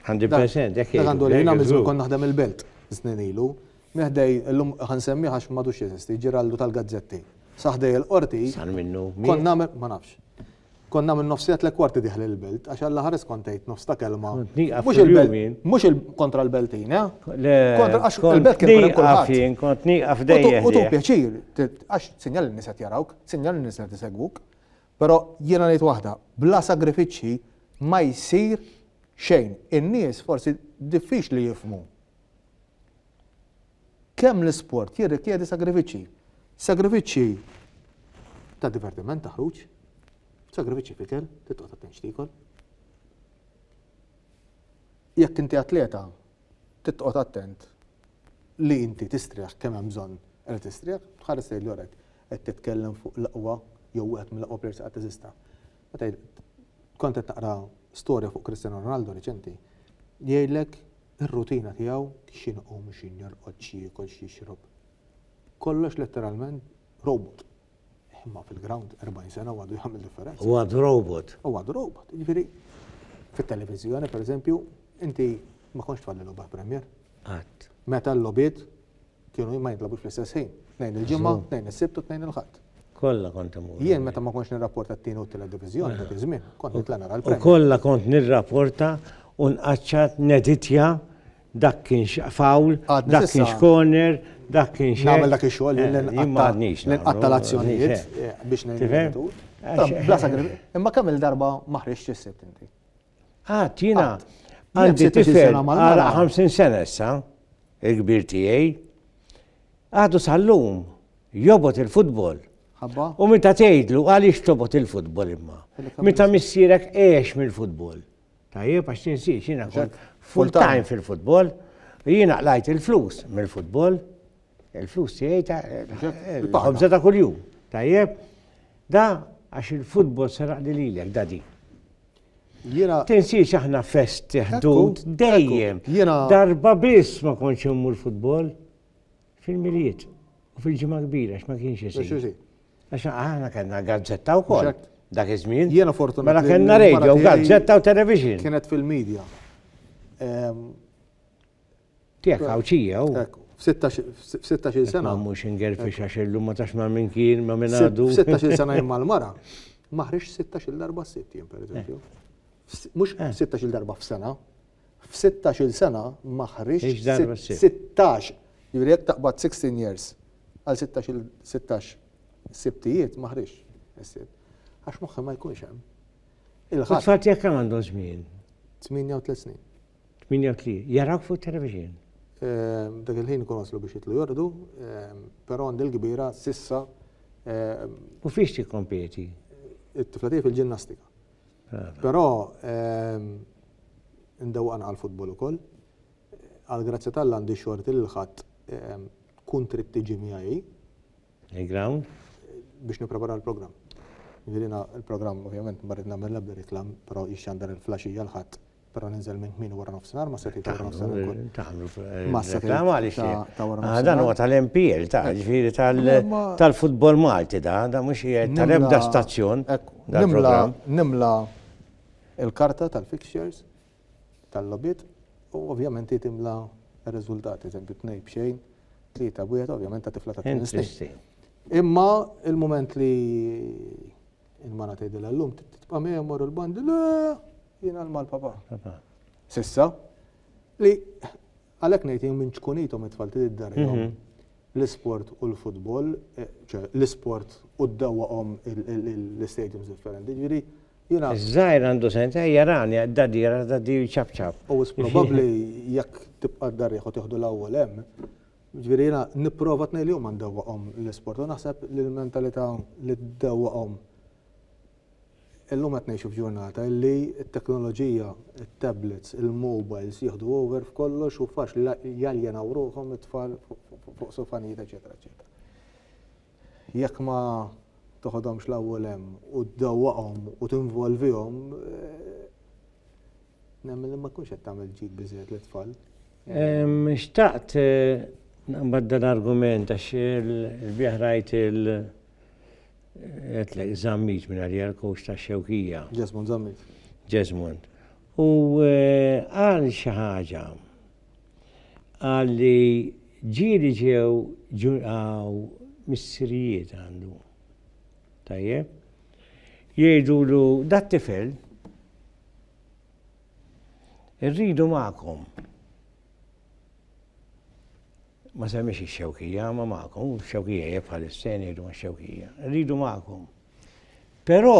100% dak għandu għalina miżur kon naħdem il-belt snin ilu. Minn ħdej, illum ħa nsemmih għax m'għadux jeżisti, Ġiraldu tal-Gazzetti. Sa ħdej il-Qorti. Sar minnu min? Kont nagħmel, ma nafx. Kont nagħmel nofsija tliet kwarti diħli l-Belt għax alla ħares kont tgħid nofs ta' kelma. Kont nieqaf Mhux il-Belt, fil-jum jien. mhux il- kontra l-Beltin, eh? Le, Kontra għax kont il-Belt kien ikun hemm nieqaf kulħadd. jien, kont nieqaf U tu- dejjem. U tu ħdejh. pjaċir, t- għax sinjal n-nies qed jarawk, sinjal n-nies qed isegwuk. Però jiena ngħid waħda, bla sagrifiċċji ma jsir xejn. In-nies forsi diffiċli jifhmu. Kemm l-isport jirrikjedi sagrifiċċji. Sagrifiċċji ta' divertiment, ta' ħruġ, sagrifiċċji f'ikel, titqgħod attent x'tiekol. Jekk inti atleta, titqgħod attent li inti tistrieħ kemm hemm bżonn li tistrieħ, tħares lejn l-orek qed titkellem fuq l-aqwa jew wieħed mill-aqwa players li qatt eżista. Meta kont qed taqra storja fuq Cristiano Ronaldo reċenti, jgħidlek ir-rutina tiegħu x'inhi jqum x'inhi jorqod x'jiekol x'jixrob. Kollox letteralment robot. Imma fil-ground 40 sena u għadu jagħmel differenza. U għadu robot. U għadu robot. Jiġifieri fit-televiżjoni pereżempju inti ma kontx tfalli logħba Premier. Qatt. Meta l-logħbiet kienu ma jintlabux fl-istess ħin. Tnejn il-ġimgħa, tnejn is-sibt u tnejn il-ħadd. Kollha kont imur. Jien meta ma kontx nirrapporta t-tieni u t-tielet diviżjoni dak iż-żmien, kont nitla' nara l-Premier. U kollha kont nirrapporta u nqaċċat neditja dak kienx foul, dak kienx corner, dak kienx. Nagħmel dak ix-xogħol li nqatta' l-azzjonijiet biex ngħin. Imma kemm il-darba ma ħriġtx is-sibt inti? Qatt, jiena għandi tifel għal 50 sena issa, il-kbir tiegħi. Għadu sal-lum jobot il-futbol. U meta tgħidlu għaliex tobot il-futbol imma. Meta missierek għex mill-futbol. Tajjeb għax tinsiex jiena full time fil-futbol. Jiena qlajt il-flus mill-futbol. Il-flus tiegħi ta' il-ħobża ta' kuljum. Tajjeb, da għax il-futbol seraq li lilek da din. Jena. Tinsiex aħna fest ħdud dejjem. Jena. Darba biss ma konċ immur futbol fil-miliet u fil-ġimgħa kbira x'ma kienx isir. Għax aħna kellna gazzetta wkoll dak iż-żmien. Jiena fortunat. Mela kellna radio, gazzetta u television. Kienet fil-medja. Ehm, Tiegħek Għawdxija hu? Hekk, f'sittax-il sena. Ma mhux ingerfix għax illum ma tafx ma' min kien, ma' min għadu. F'sittax-il sena jien mal-mara, ma ħriġt sittax-il darba s-sitt jien pereżempju. Mhux sittax-il darba f'sena, f'sittax-il sena ma ħriġt sittax, jiġifieri jekk taqbad 16 years għal sittax-il sittax sibtijiet ma ħriġtx is-sitt. Għax moħħi ma jkunx hemm. Il-ħadd. It-tfal tiegħek kemm għandhom żmien? Tmienja u tliet snin. 8-3, jarawk fuq television. Dak il-ħin ikun waslu biex jitlu jorqdu, però għandi l-kbira s'issa. U fiex tikkompeti? It-tifla tiegħi fil-ġinnastika. Però ndewwaq anqal futbol ukoll. Għall-grazzja t'Alla għandi xorti li l-Ħadd tkun trid tiġi miegħi. Il-ground? Biex nipprepara l-programm. Jiġifieri jiena l-programm ovvjament ma rrid nagħmel l-ebda riklamm, però jixxandar il-flaxija l-Ħadd Però ninżel minn kmieni wara nofsinhar ma' setgħi ta' wara nofsinhar ukoll. Tagħmlu Ma' setgħi ta' wara nofsinhar. Dan huwa tal-MPL, ta' ġifieri tal-futbol Malti da, da mhux qiegħed tal-ebda stazzjon. Nimla l-karta tal-fixtures tal-logħbiet u ovvjament hi timla r-riżultati, eżempju tnejn b'xejn, tlieta b'wieħed, ovvjament ta' tifla ta' tmien snin. Imma l-mument li Il-mara tgħidilha llum tibqa' miegħi mmorru l-bandi, le, jien għal mal-papa. Sissa, li għalhekk ngħid jien minn ċkunithom it-tfal trid iddarrihom mhm. l-isport u l-futbol, eh, l-isport u d-dawwaqhom l-istadiums differenti, ġifieri Jina. Zaħir għandu senta, jarani, dadi, dadi ċapċap. U s-probabli jek tibqa d-darriħu tiħdu l-awwel hemm, Jiġifieri jiena nipprova tnejn li huma ndewwaqhom l-isport u naħseb li l-mentalità li ddewwaqhom illum qed ngħixu f'ġurnata li t-teknoloġija, it-tablets, il-mobiles jieħdu over f'kollox u faċli jaljenaw ruħhom it-tfal fuq sofanijiet eċċetera eċċetera. Jekk ma toħodhomx l-ewwel hemm u ddewwaqhom u tinvolvihom, nemmen li ma tkunx qed tagħmel ġid biżżejjed lit-tfal. Xtaqt naqbad dan l-argument għax il-bieraħ rajt il għedtlek Zammit minn għalija l-kowċ ta' Xewkija. Jesmond Zammit. Jesmond. U qal xi ħaġa Qal li ġieli ġew ġurnataw missirijiet għandu. Tajjeb? Jgħidulu dat-tifel irridu magħkom. Ma semmix ix-xewkija, ma magħkom, xewkija jekk bħal is-sen jgħidu ma' xewkija. Irridu magħkom. Però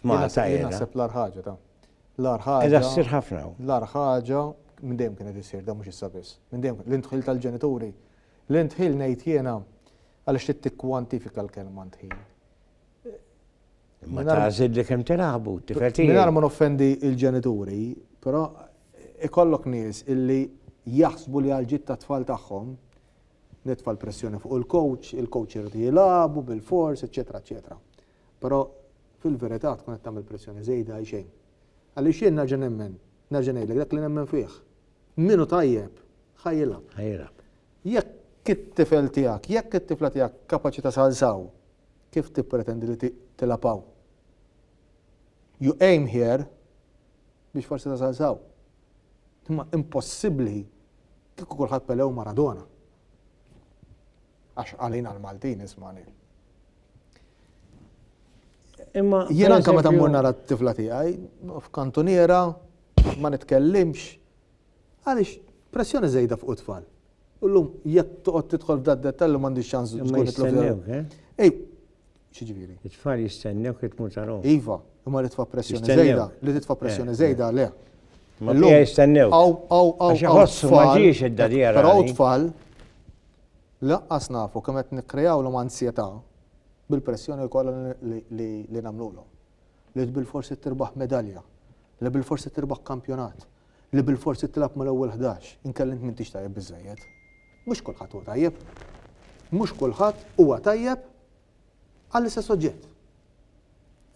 f'Malta. Jien naħseb l-ar ħaġa ta' l-ar ħaġa. Qiegħda ssir ħafna. L-ar ħaġa minn dejjem kienet issir da mhux issa biss. Minn dejjem l-intħil tal-ġenituri. L-intħil ngħid jiena għaliex trid tikkwantifika l-kelma ntħil. Ma tażid li kemm tilagħbu, tifetin. Mingħajr ma noffendi l-ġenituri, però ikollok nies illi jaħsbu li għal ġid tat-tfal tagħhom nitfa' l-pressjoni fuq il-coach, il-coach irid jilagħbu bil-fors, eċetera, eċetera. Però, fil-verità, tkun qed tagħmel pressjoni żejda għal xejn. Għaliex jien nerġa' nemmen, nerġa' ngħidlek dak li nemmen fih. Min hu tajjeb, ħa jilgħab. Ħa jilgħab. Jekk it-tifel tiegħek, jekk it-tifla tiegħek kapaċi tasal għal s'hawn, kif tippretendi li tilgħab hawn? You aim here biex forsi tasal s'hawn. Imma impossibbli kieku kulħadd Pele u Maradona. Għax għalina l-Maltin ismani. Imma. Jien anka meta mmur nara t-tifla tiegħi, f'kantuniera, ma nitkellimx. Għaliex pressjoni żejda fuq it-tfal. Ullum, jekk toqgħod tidħol f'dat dettallu m'għandix ċans tkun it-tlobja. Eh? Ej, X'jiġifieri? It-tfal jistennewk li tmur tarahom. Iva, imma li tfa' pressjoni żejda, li titfa' pressjoni żejda le. Ma mija jistennewk. Aw, aw, aw. Għax iħossu ma ġiex idda li jara. Però tfal laqqas nafu kemm qed nikkreawlhom anzjetà bil-pressjoni kollha li nagħmlulhom. Li bilforsi tirbaħ medalja, li bilforsi tirbaħ kampjonat, li bilforsi tilgħab mal-ewwel ħdax, inkella int m'intix tajjeb biżejjed. Mhux kulħadd huwa tajjeb. Mhux kulħadd huwa tajjeb għall-istess oġġett.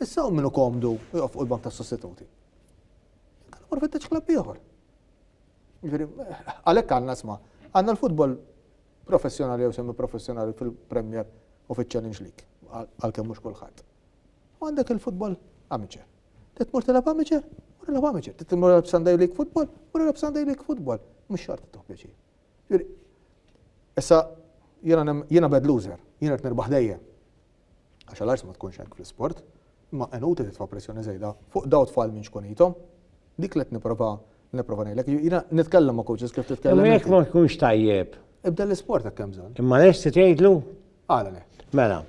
Issa hu min hu komdu u joqgħod fuq il-bank tas-sostituti. Kellu mar fittex klabb ieħor. Jiġifieri, għalhekk għandna sma' għandna l-futbol professjonali jew semi professjonali fil-Premier u fiċ-Challenge League għalkemm mhux kulħadd. U għandek il-futbol amateur. Titmur tilab amateur, u tilab amateur. Titmur tilab Sunday League football, u tilab Sunday League football. Mhux xart toħ pjaċir. Jiġifieri, issa jiena jiena bad loser, jien irid nirbaħ dejjem. Għax għal ars ma tkunx hekk fl-isport, imma inutli titfa' pressjoni żejda fuq daw tfal minn xkunithom. Dik li qed nipprova nipprova ngħidlek. Jiena nitkellem ma' coaches kif titkellem. Imma jekk ma tkunx tajjeb. Ibdel l-isport hekk hemm bżonn. Imma lesti tgħidlu? Għala le. Mela.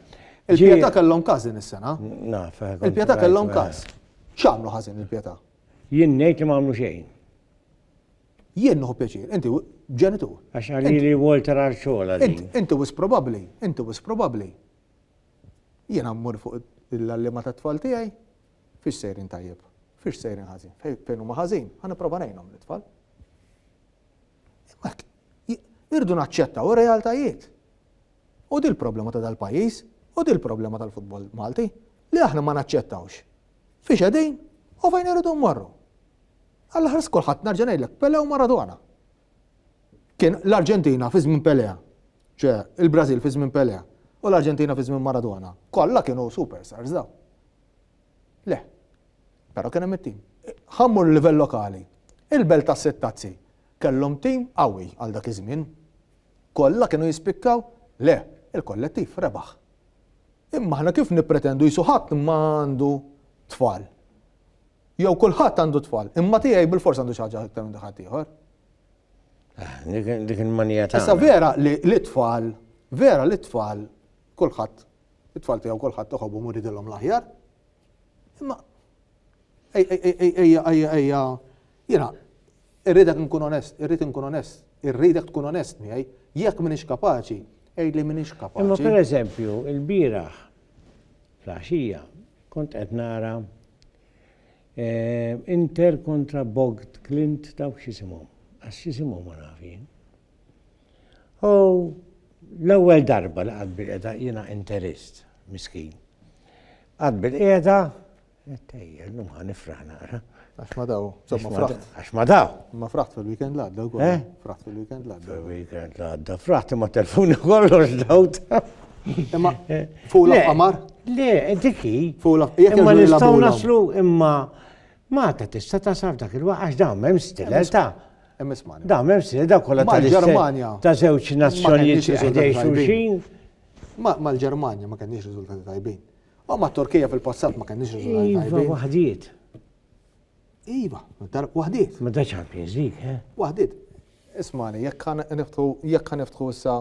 Il-Pietà kellhom każ din is-sena. Naf. Il-Pietà kellhom każ. X'għamlu ħażin il-Pietà? Jien ngħid li ma għamlu xejn. Jien nħu pjaċir, inti ġenitur. Għax għalli li Walter Arċola. Inti wis probabli, inti wis probabli. Jien għammur fuq l-allima ta' tfal tijaj, fiex sejrin tajjeb, fiex sejrin ħazin, fejn huma ħazin, għan prova nejnom l-tfal. Irdu naċċetta u realtajiet. U dil problema ta' dal-pajis, u dil problema tal-futbol Malti, li aħna ma naċċettawx. Fiex għedin, u fejn irridu marru. Għall-aħħar skulħadd nerġa' ngħidlek Pele u Maradona. Kien l-Arġentina fi żmien Pele, ċe il-Brażil fi żmien Pele u l-Arġentina fi żmien Maradona. Kollha kienu superstars daw. Le, però kien hemm it-tim. Ħammur livell lokali. Il-belt tas-sittazzi kellhom tim qawwi għal dak iż-żmien. Kollha kienu jispikkaw? Le, il-kollettiv rebaħ. Imma aħna kif nippretendu jisu ħadd ma għandu tfal. Jew kulħadd għandu tfal, imma tiegħi bil-fors għandu xi ħaġa iktar minn dak ħaddieħor. Ah, dik il-manija ta' Issa vera li l-tfal, vera li t-tfal kulħadd it-tfal tiegħu kulħadd toħobhom u ridilhom l-aħjar. Imma ejja ejja ejja jiena Irridek inkun onest, irrid inkun onest, irridek tkun onest miegħi. Jekk m'iniex kapaċi, għidli m'iniex kapaċi. Imma pereżempju, ilbieraħ fl-għaxija kont qed nara eh, Inter kontra Bogt Clint dawk x'isimhom. Għax x'isimhom ma nafin. U l-ewwel darba li qatt bil-qeda jiena interist, miskin. Qatt bil-qeda Ejja, llum ħa nifraħ naqra. Għax ma daw, somma fraħt. Għax ma daw. Ma fraħt fil-weekend l-għadda u eh? Fraħt fil-weekend l-għadda. Fil-weekend l-għadda, fraħt ma telfuni kollox dawt. Imma eh. fuq l-qamar? Le, diki. Fuq l-qamar. Imma nistaw naslu, imma ma ta tista ta' saf dak il-waqt, għax dawn mem stilel ta' Emmismani. Da, mem stilel, da kolla ta' l-Germania. Ta' zewċ nazzjonijiet xulxin. Ma l-Germania ma kenniex rizultati tajbin. U ma' Turkija fil-passat ma kenniex riżultati tajbin. Iva, waħdiet. Iva, waħdiet. Ma da Champions League, eh? Waħdiet. Ismani, jekk kan niftħu, jekk kan niftħu issa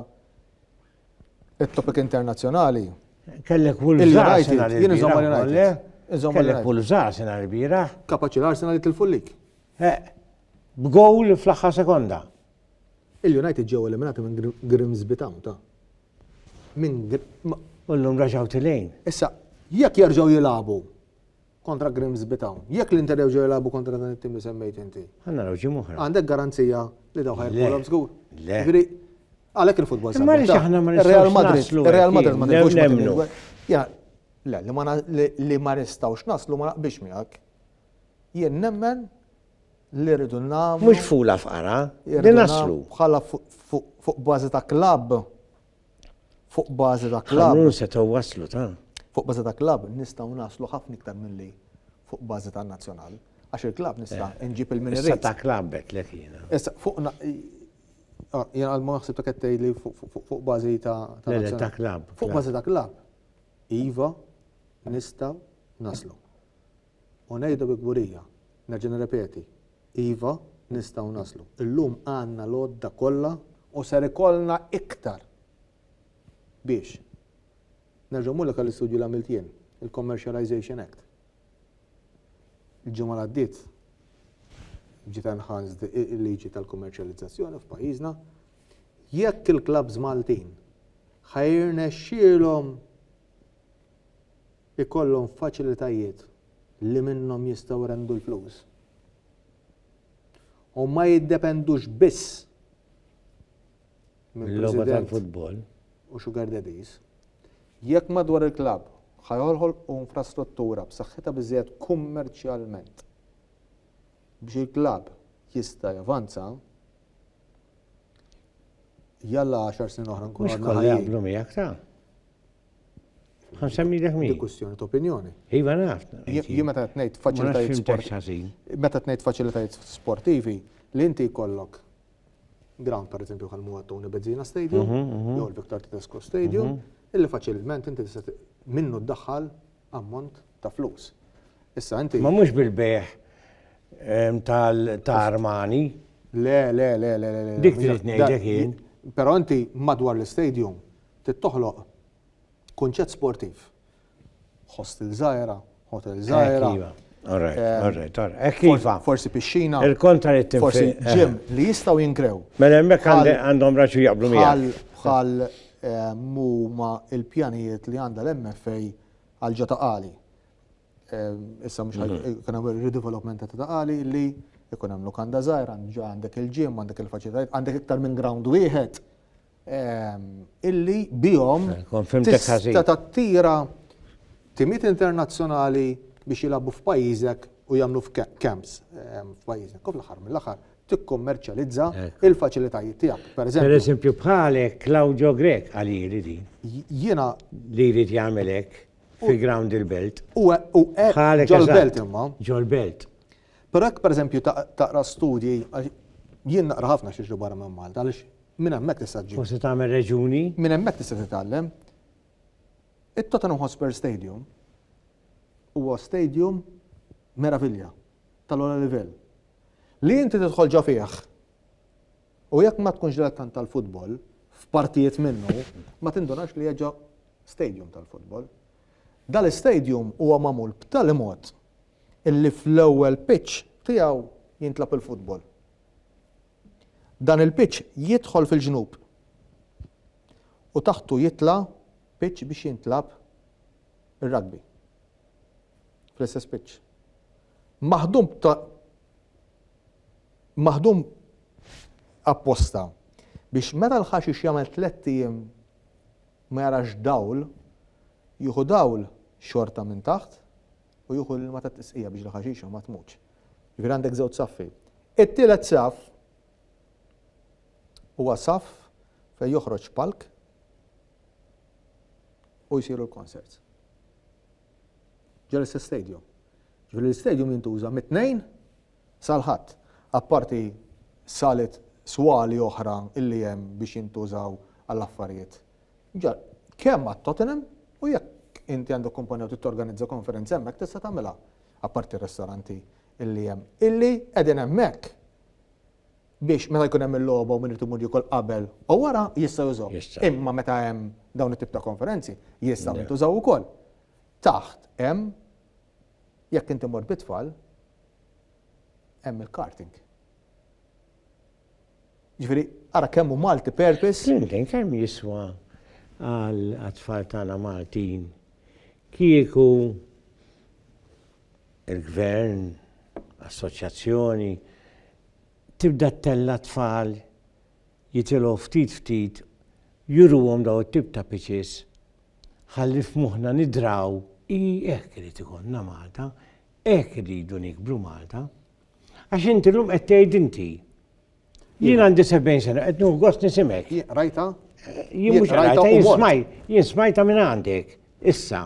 it-topik internazzjonali. Kellek Wolves Arsenal il-biraħ. Kellek Wolves Arsenal il-biraħ. Kapaċi l-Arsenal jitilfu l-lik. Eh, b'gowl fl-aħħar sekonda. Il-United ġew eliminati minn Grimsby Town ta' minn. U llum reġgħu tilin. Issa, jekk jerġgħu jilagħbu kontra Grimsby Town, jekk l-Inter jerġgħu jilagħbu kontra dan it-tim li semmejt inti. Ħa naraw ġimgħa oħra. Għandek garanzija li dawn ħajrbaħulhom żgur? Le. Jiġri, għalhekk il-futbol sabiħ. Imma aħna ma nistgħux naslu. Ir-Real Madrid ma nistgħux nemmnu. Ja, le, li ma nistgħux naslu ma naqbilx miegħek. Jien nemmen li rridu nagħmlu. Mhux fula fqara, li naslu. Bħala fuq bażi ta' klabb. Fuq bażi ta' klabb. Ħanun setgħu waslu ta'. Fuq bażi ta' klabb nistgħu naslu ħafna iktar milli fuq bażi ta' nazzjonal. Għax il-klabb nista' eh, nġib il-minirri. Issa ta' klabb qed lek jiena. Issa fuq ah, jiena għal ma naħseb ta' kettej li fuq bażi ta' nazzjonal. Ta' klabb. Fuq bażi ta' klabb. Iva nistgħu naslu. U ngħidu bi kburija, nerġa' nirrepeti, iva, nistgħu naslu. Illum għandna l-għodda kollha u ser ikollna iktar biex. Nerġa' mmur lek għall-istudju li għamilt jien, il-Commercialisation Act. Il-ġimgħa li għaddiet ġiet enhanced il-liġi tal-kummerċjalizzazzjoni f'pajjiżna. Jekk il-klabbs Maltin ħa jirnexxielhom ikollhom faċilitajiet li minnhom jistgħu jrendu l-flus u ma jiddependux biss minn president u sugar daddies, jekk madwar il-klabb ħa joħolqu infrastruttura b'saħħitha biżżejjed kummerċjalment biex il-klabb jista' javanza, jalla għaxar snin oħra nkunu għadna ħajjin. Ħansemmi dak min. Dikussjoni ta' opinjoni. Iva naf. Jien meta qed ngħid faċilitajiet sportivi. Meta qed ngħid faċilitajiet sportivi li inti jkollok ground per eżempju bħal muwa Tony Bezzina Stadium, mhm, mhm. jew il-Victor Tedesco Stadium, mhm. illi faċilment inti tista' minnu ddaħħal ammont ta' flus. Issa inti. Ma mhux bil-beħ tal-armani. Le, le, le, le, le. Dik trid ngħidlek jien. Però inti madwar l-istadium Trid toħloq kunċett sportiv. Hostel żgħira, hotel żgħira. Iva. All right, eh, all right, all right. Iva. Forsi pixxina. Il-kontra li tinfi. Forsi eh. ġim li jistaw jinkrew. Mela hemmhekk għandhom raġu jaqblu miegħek. Bħal eh, muma il-pjanijiet li għandha l-MFA għal ġata qali. Issa mhux mhm. kien hemm redevelopment ta' qali li jkun hemm lukanda żgħir, għandek il-ġim, għandek il-faċilitajiet, għandek iktar minn ground wieħed. illi bihom tista' tattira timiet internazzjonali biex jilagħbu f'pajjiżek u jagħmlu f'camps f'pajjiżek. U fl-aħħar mill-aħħar tikkummerċjalizza il-faċilitajiet tiegħek. Per eżempju bħalek Claudio Grech qalili din. Jiena li jrid jagħmel hekk fi ground il-belt. U hekk ġol-belt imma. Ġol-belt. Però jekk pereżempju taqra studji, jien naqra ħafna x'jiġri barra minn Malta għaliex minn hemmhekk tista' ġġib. Forsi tagħmel reġuni. Minn hemmhekk tista' titgħallem. It-Tottenham Hotspur Stadium huwa stadium meravilja tal-ogħla livell. Li inti tidħol ġo fih u jekk ma tkunx dilettant tal-futbol, f'partijiet minnu, ma tindunax li hija ġo stadium tal-futbol. Dal-istadium huwa magħmul b'tali mod illi fl-ewwel pitch tiegħu jintlagħab il-futbol. Dan il-pitch jidħol fil-ġnub u taħtu jitla' pitch biex jintlagħab ir-rugby. Fl-istess pitch. Maħdum maħdum apposta biex meta l-ħaxix jagħmel tlett ijiem ma jarax dawl, jieħu dawl xorta minn taħt u jieħu l-ilma tat-tisqija biex l-ħaxixa ma tmutx. Jiġifieri għandek żewġ saffi. It-tielet saff huwa saff fejn joħroġ palk u jsiru l-concerts. Ġol-istess stadium. Ġifieri l-istadium jintuża mit-tnejn Sal-Ħadd, apparti salet swali oħra li hemm biex jintużaw għal affarijiet ġar, kemm għat-Tottenham u jekk inti għandek kumpanija u trid torganizza konferenza hemmhekk tista' tagħmilha, apparti r-ristoranti li hemm, illi qegħdin hemmhekk biex meta jkun hemm il-logħba u min irid imur jiekol qabel u wara jista' jużahom. Imma meta hemm dawn it-tip ta' konferenzi jistgħu jintużaw ukoll. Taħt hemm Jekk inti mort bit-tfal, hemm il-karting. Ġifieri, ara kemm hu multi-purpose. Flimkien kemm jiswa għat-tfal tagħna Maltin kieku il-gvern, assoċjazzjoni tibda ttella' t-tfal jitilgħu ftit ftit juruhom dawn it-tip ta' pitches ħalli f'moħħna nidraw, ii hekk irid ikollna Malta, hekk irridu nikbru Malta. Għax inti llum qed tgħid inti. Jien għandi 70 sena qed nieħu gost nisimek. Rajta? Jien mhux rajta, jien smaj, jien smajta minn għandek. Issa.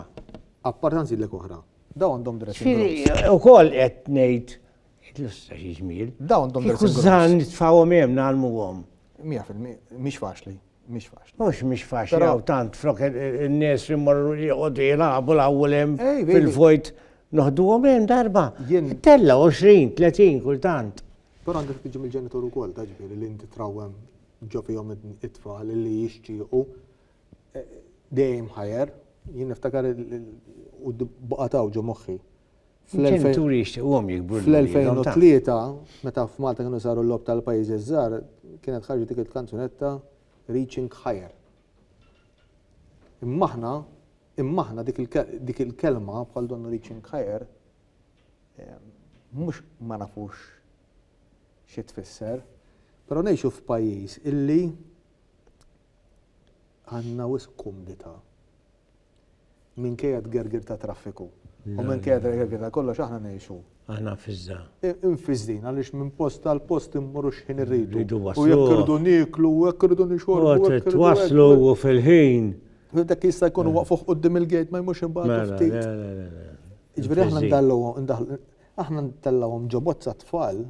Appartanzi l oħra. Daw għandhom dressing. Ukoll qed ngħid Illustra xi ġmiel. Dawn dom Kieku żżan nitfawhom hemm nagħlmuhom. 100% mhix faċli. Mhix faċli. Mhux mhix faċli għaw tant flok in-nies li mmorru joqogħdu jilagħbu l-awwel hemm fil-vojt noħduhom hemm darba. Tella 20, 30 kultant. Però għandek tiġi mill-ġenitur ukoll ta' ġifieri li inti trawwem ġo fihom it-tfal li jixtiequ e, dejjem ħajer. Jien niftakar u baqataw ġo moħħi. Fl-ġenituri jixtiquhom jikbru Fl-2003, meta f'Malta kienu saru l-logħob tal-pajjiżi ż-żgħar, kienet ħarġet dik il-kanzunetta Reaching Higher. Imma aħna, imma aħna dik il-kelma bħal donnu Reaching Higher mhux ma nafux xi tfisser, però ngħixu f'pajjiż illi għandna wisq kumdità Minkejja t-tgergir tat-traffiku u minkejja t-tgergir ta' kollox aħna ngħixu. Aħna mfiżża. Imfiżżin għaliex minn post għal post immorru x'ħin irridu. Irridu waslu. U jekk irridu nieklu, u jekk irridu nixorbu. U trid twasslu u fil-ħin. Dak jista' jkun waqfuh quddiem il-gate ma jmurx imbagħad ftit. Jiġifieri aħna ndallgħuhom, aħna ntellgħuhom ġo bozza t-tfal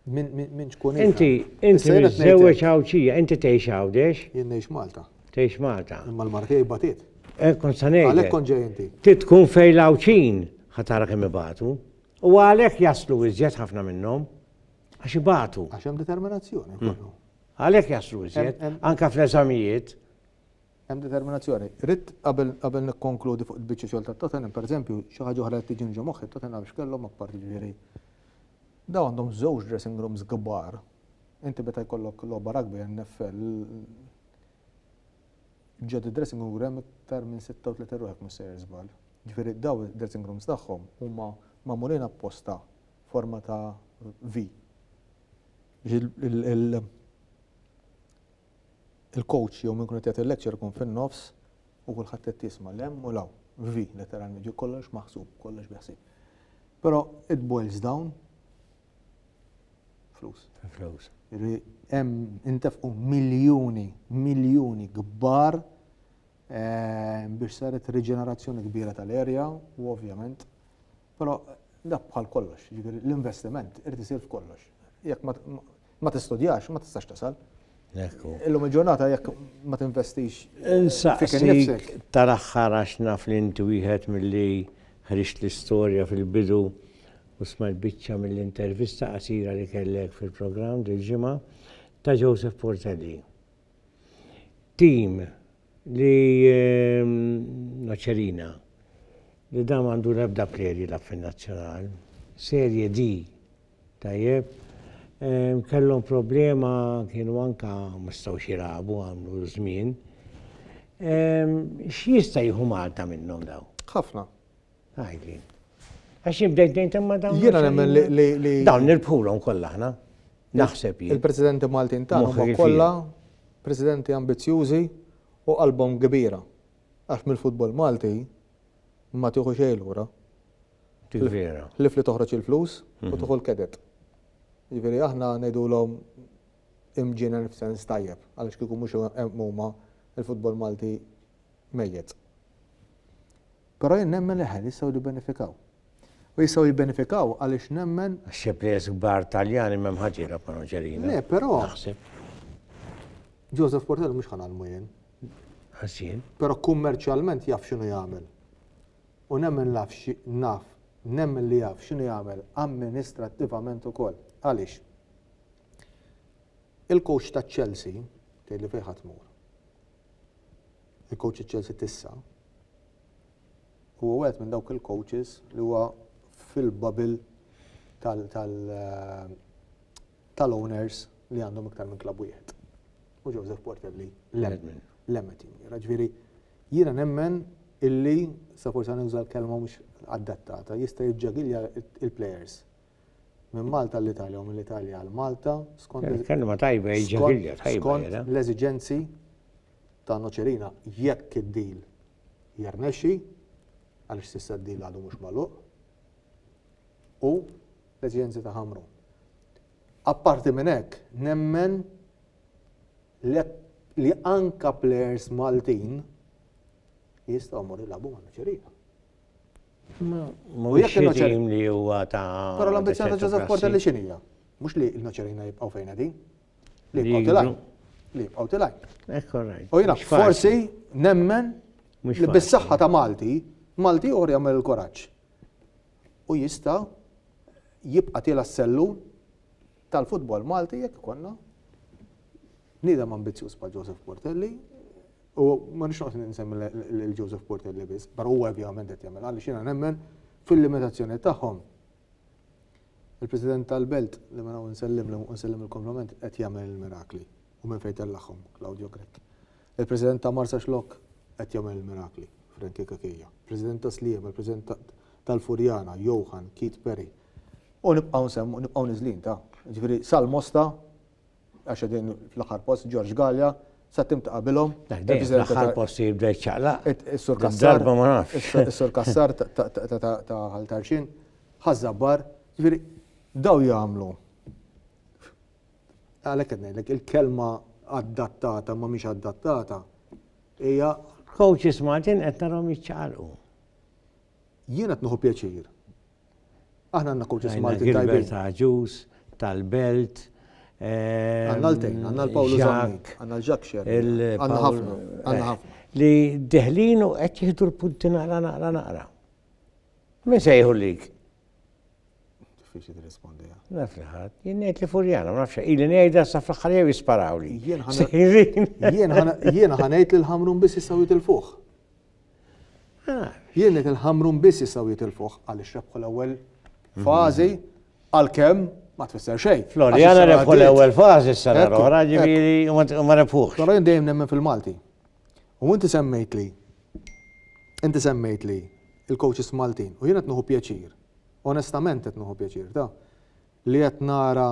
Min, min, min tkun Inti, inti miżżewweġ Għawdxija, inti tgħix Għawdex? Jien ngħix Malta. Tgħix Malta. Imma l-mara tiegħi batit. Eh, kont sa ngħid. Għalhekk kont ġej inti. Ti tkun fejn l-Għawdxin ħa tara kemm ibatu. U għalhekk jaslu iżjed ħafna minnhom għax ibatu. Għax hemm determinazzjoni. Hmm. Għalhekk jaslu iżjed, anke fl-eżamijiet. Hemm determinazzjoni. Ridt qabel qabel nikkonkludi fuq il-biċċa xogħol ta' Tottenham, pereżempju, xi ħaġa oħra qed tiġini ġo moħħi, Tottenham x'kellhom apparti ġifieri dawn għandhom żewġ dressing rooms kbar. Inti meta jkollok logħba rugby NFL ġod id-dressing room hemm iktar minn 36 ruħ jekk mhux sejjer żball. Ġifieri daw id-dressing rooms tagħhom huma magħmulin apposta forma ta' V. Il il-coach jew min kun qed jagħti l-lecture ikun fin-nofs u kulħadd qed jisma' l-hemm u l-hawn. V, letteralment, ġi kollox maħsub, kollox biħsib. Però it boils down flus. Flus. Hemm intefqu miljuni, miljuni kbar eh, biex saret riġenerazzjoni kbira tal-erja u ovvjament Però dak bħal kollox, jiġifieri l-investiment irid isir f'kollox. Jekk ma tistudjax, ma tistax tasal. Illum il-ġurnata jekk ma tinvestix. Insaqsik tal-aħħar għax naf li inti wieħed milli ħriġt l-istorja fil-bidu u smajt biċċa mill-intervista qasira li kellek fil-programm dil-ġimgħa ta' Joseph Portelli. tim li Noċerina li dan għandu l-ebda prerji la fin nazzjonal. Serje D tajjeb kellhom problema kienu anka mistgħu xirabu għamlu żmien. X'jista' jieħu Malta minnhom daw? Ħafna. Għajli. Għax jibdejt dejt imma dawn. Jiena nemmen li. Dawn nirbħulhom kollha aħna. Naħseb jien. Il-Presidenti Maltin ta' huma kollha presidenti ambizjużi u qalbhom kbira. Għax mill-futbol Malti ma tieħu xejn lura. Vera. Lif li toħroġ il-flus u mhm. tuħu l-kedet. Ġifieri aħna ngħidulhom imġienen f'sens tajjeb għaliex kieku mhux huma il-futbol Malti mejjet. Però jien nemmen li l-ħen jistgħu jibbenefikaw. U jistgħu jibbenefikaw għaliex nemmen. Xi plejers kbar Taljani m'hemm ħadd jilgħab ma' Noċerino. Le, però. Naħseb. Joseph Portello mhux ħa nagħlmu jien. Ħażin. Però kummerċjalment jaf x'inhu jagħmel. U nemmen naf naf nemmen li jaf x'inhu jagħmel amministrattivament ukoll. Għaliex? Il-coach ta' Chelsea tgħidli fejn ħadd mur. Il-kowċ ta' Chelsea t'issa huwa wieħed minn dawk il-kowċis li huwa fil-bubble tal-owners li għandhom iktar minn klabb wieħed. U Joseph Portelli lemmen. Lemmen tim. Ġifieri jiena nemmen illi, sa forsi ħa nuża l-kelma mhux adattata, jista' jiġġagilja l-plejers. minn Malta għall-Italja u mill-Italja għal Malta skont Kelma tajba jiġi għilja tajba. Skont l-eżiġenzi ta' Noċerina jekk id-deal jirnexxi għaliex s'issa d-deal għadu mhux magħluq u l-eżiġenzi ta' Ħamru. Apparti minn hekk, nemmen li anka players Maltin jistgħu jmorru jilagħbu ma' Noċerina. U jekk il-noċerin li huwa ta' Però l-ambizzjoni ta' Joseph Porter li xinija? Mhux li l-noċerina jibqgħu fejn qegħdin. Li jibqgħu tilaj. Li jibqgħu tilaj. U jiena forsi nemmen li bis-saħħa ta' Malti, Malti uħor jagħmel il-kuraġġ. U jista' jibqa' tiela s-sellun tal-futbol Malti jekk ikollna bniedem ambizzjuż bħal Joseph Portelli u ma nix noqgħod ninsemmi lil Joseph Portelli biss, però huwa ovvjament qed jagħmel għaliex jiena nemmen fil-limitazzjoni tagħhom. Il-President tal-Belt li minn hawn nsellim li nsellim il-kompliment qed jagħmel il-mirakli u minn fejn tellagħhom Claudio Grek. Il-President ta' Marsa Xlok qed jagħmel il-mirakli Frankie Kakija. President ta' Sliema, il-President tal-Furjana, Johan, Keith Perry. U nibqgħu nsemmu, nibqgħu niżlin ta', jiġifieri Salmosta, għax qegħdin fl-aħħar post, George Galea, sa tim ta' qabilhom. L-aħħar post jibda jċaqlaq. Is-Sur Kassar. Is-Sur Kassar ta' Ħal Tarxin, ħażabbar, jiġifieri daw jagħmlu. Għalhekk qed ngħidlek il-kelma adattata ma mhix adattata hija coaches Martin qed narhom jiċċaqalqu. Jien qed nieħu pjaċir Aħna għandna coaches Maltin tajbin. Għandna Gilbert Agius tal-Belt. Għandna l-tejn, għandna l-Pawlu Zak. Għandna l-Ġak Xer. Għandna ħafna, għandna ħafna. Li deħlin u qed jieħdu l-punti naqra naqra naqra. Min se jieħu lik? Diffiċi tirrispondi. Naf li ħadd, jien ngħid li furjana, ma nafx, ili ngħidha sa fl-aħħar jew jisparaw li. Jien ħanejt lil ħamrun biss jistgħu jitilfuh. Jien qed il-Ħamrun biss jistgħu jitilfuh għaliex rebħu l-ewwel fażi għalkemm ma tfisser xejn. Floriana rebħu l-ewwel fażi s-sena l-oħra ġifieri ma rebħux. Però jien dejjem nemmen fil-Malti. U inti semmejt li inti semmejt li il-coaches Maltin u jien qed nieħu pjaċir. Onestament qed nieħu pjaċir ta' Li qed nara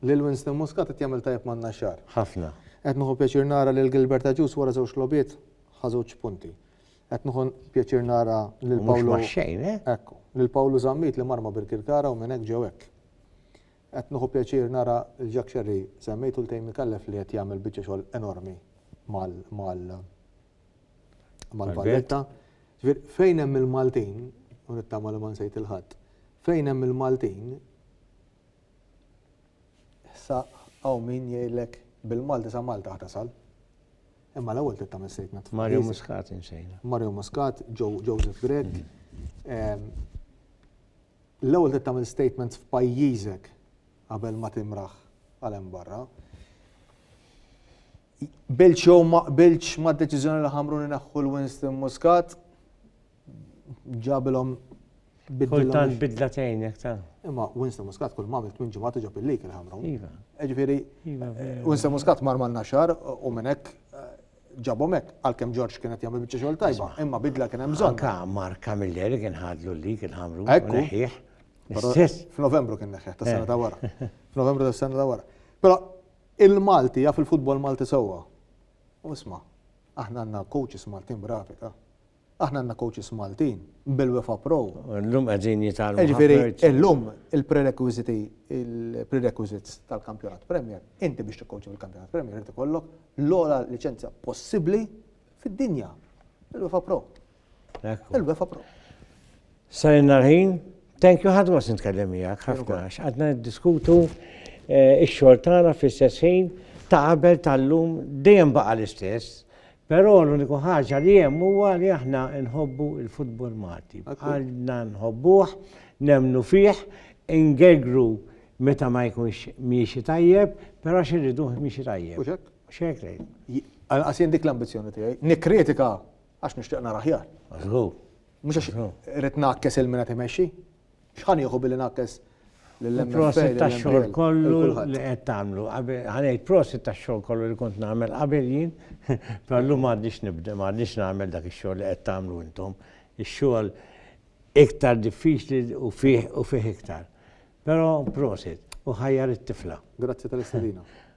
lil Winston Muscat qed jagħmel tajjeb man-Naxxar. Ħafna. Qed nieħu pjaċir nara lil Gilbert Agius wara żewġ logħbiet ħa żewġ punti. Qed nieħu pjaċir nara lil Pawlu. Mhux xejn, eh? Ekku. Lil Pawlu Zammit li mar ma' Birkirkara u minn hekk ġew hekk. Qed nieħu pjaċir nara lil Jack Scerri semmejtu l-Tejmi Kallef li qed jagħmel biċċa xogħol enormi mal Mal Valletta. Fejn hemm il-Maltin, u nittama li ma nsejt il-ħadd, fejn hemm il-Maltin, sa hawn min jgħidlek bil-Malti sa Malta ħa tasal. Imma l-ewwel trid tagħmel sejtna tfal. Mario Muscat insejna. Mario Muscat, Joseph Grech. Ehm, l-ewwel trid tagħmel statement f'pajjiżek qabel ma timraħ għal hemm barra. Qbiltx jew ma qbiltx mad-deċiżjoni li ħamrun ineħħu l-Winston Muscat, ġabilhom Kultant bidla tgħinek ta' Imma Winston Muscat kull ma għamilt minn ġimgħat iġob il-lik il-ħamrun. Iva. Ġifieri, iva, eh, Winston Muscat mar mal naxar u minn hekk eh, ġabhom hekk għalkemm Ġorġ kien qed jagħmel biċċa xogħol tajba, imma bidla kien hemm bżonn. Anka Mark Camilleri kien ħadlu l-lik il-ħamrun. Ekku. F'Novembru kien neħħeħ tas-sena ta' wara. Eh. F'Novembru tas-sena ta' wara. Però Il-Malti jaf il-futbol Malti sewwa. U isma', aħna għandna coaches Maltin bravi, ta. Aħna għandna coaches Maltin bil-UEFA Pro. Illum qegħdin jitgħallmu. Jiġifieri illum il-prerequisiti, il-prerequisites tal-Kampjonat Premier, inti biex tikkoċja fil-Kampjonat Premier irid ikollok l-ogħla liċenzja possibbli fid-dinja, il-UEFA Pro. Il-wefa pro. Sajna l-ħin, thank you ħadma sin tkellem miegħek ħafna għax għadna diskutu eh, ix-xogħol tagħna fl-istess ħin ta' qabel tal-lum dejjem baqa' l-istess. Però l-uniku ħaġa li hemm huwa li aħna nħobbu il-futbol Malti. Għalna nħobbuh, nemnu fih, ingegru meta ma jkunx miexi tajjeb, però xirriduh miexi tajjeb. Xek lejn. Għal-qasin dik l-ambizjoni tiegħi. Nikkritika Għax nixtieq nara aħjar. Żgur. Mhux għax irrid ngħakkes il-min qed imexxi. X'ħan jieħu billi ngħakkes Il-prosit ta' xogħol kollu li qed tagħmlu. Ħanejt prosit ta' xogħol kollu li kont nagħmel qabel jien, perlu m'għadniex nibda, m'għadniex nagħmel dak ix-xogħol li qed tagħmlu intom. Ix-xogħol iktar diffiċli u fih u fih iktar. Però prosit u ħajjar it-tifla. Grazzi tal-istadina.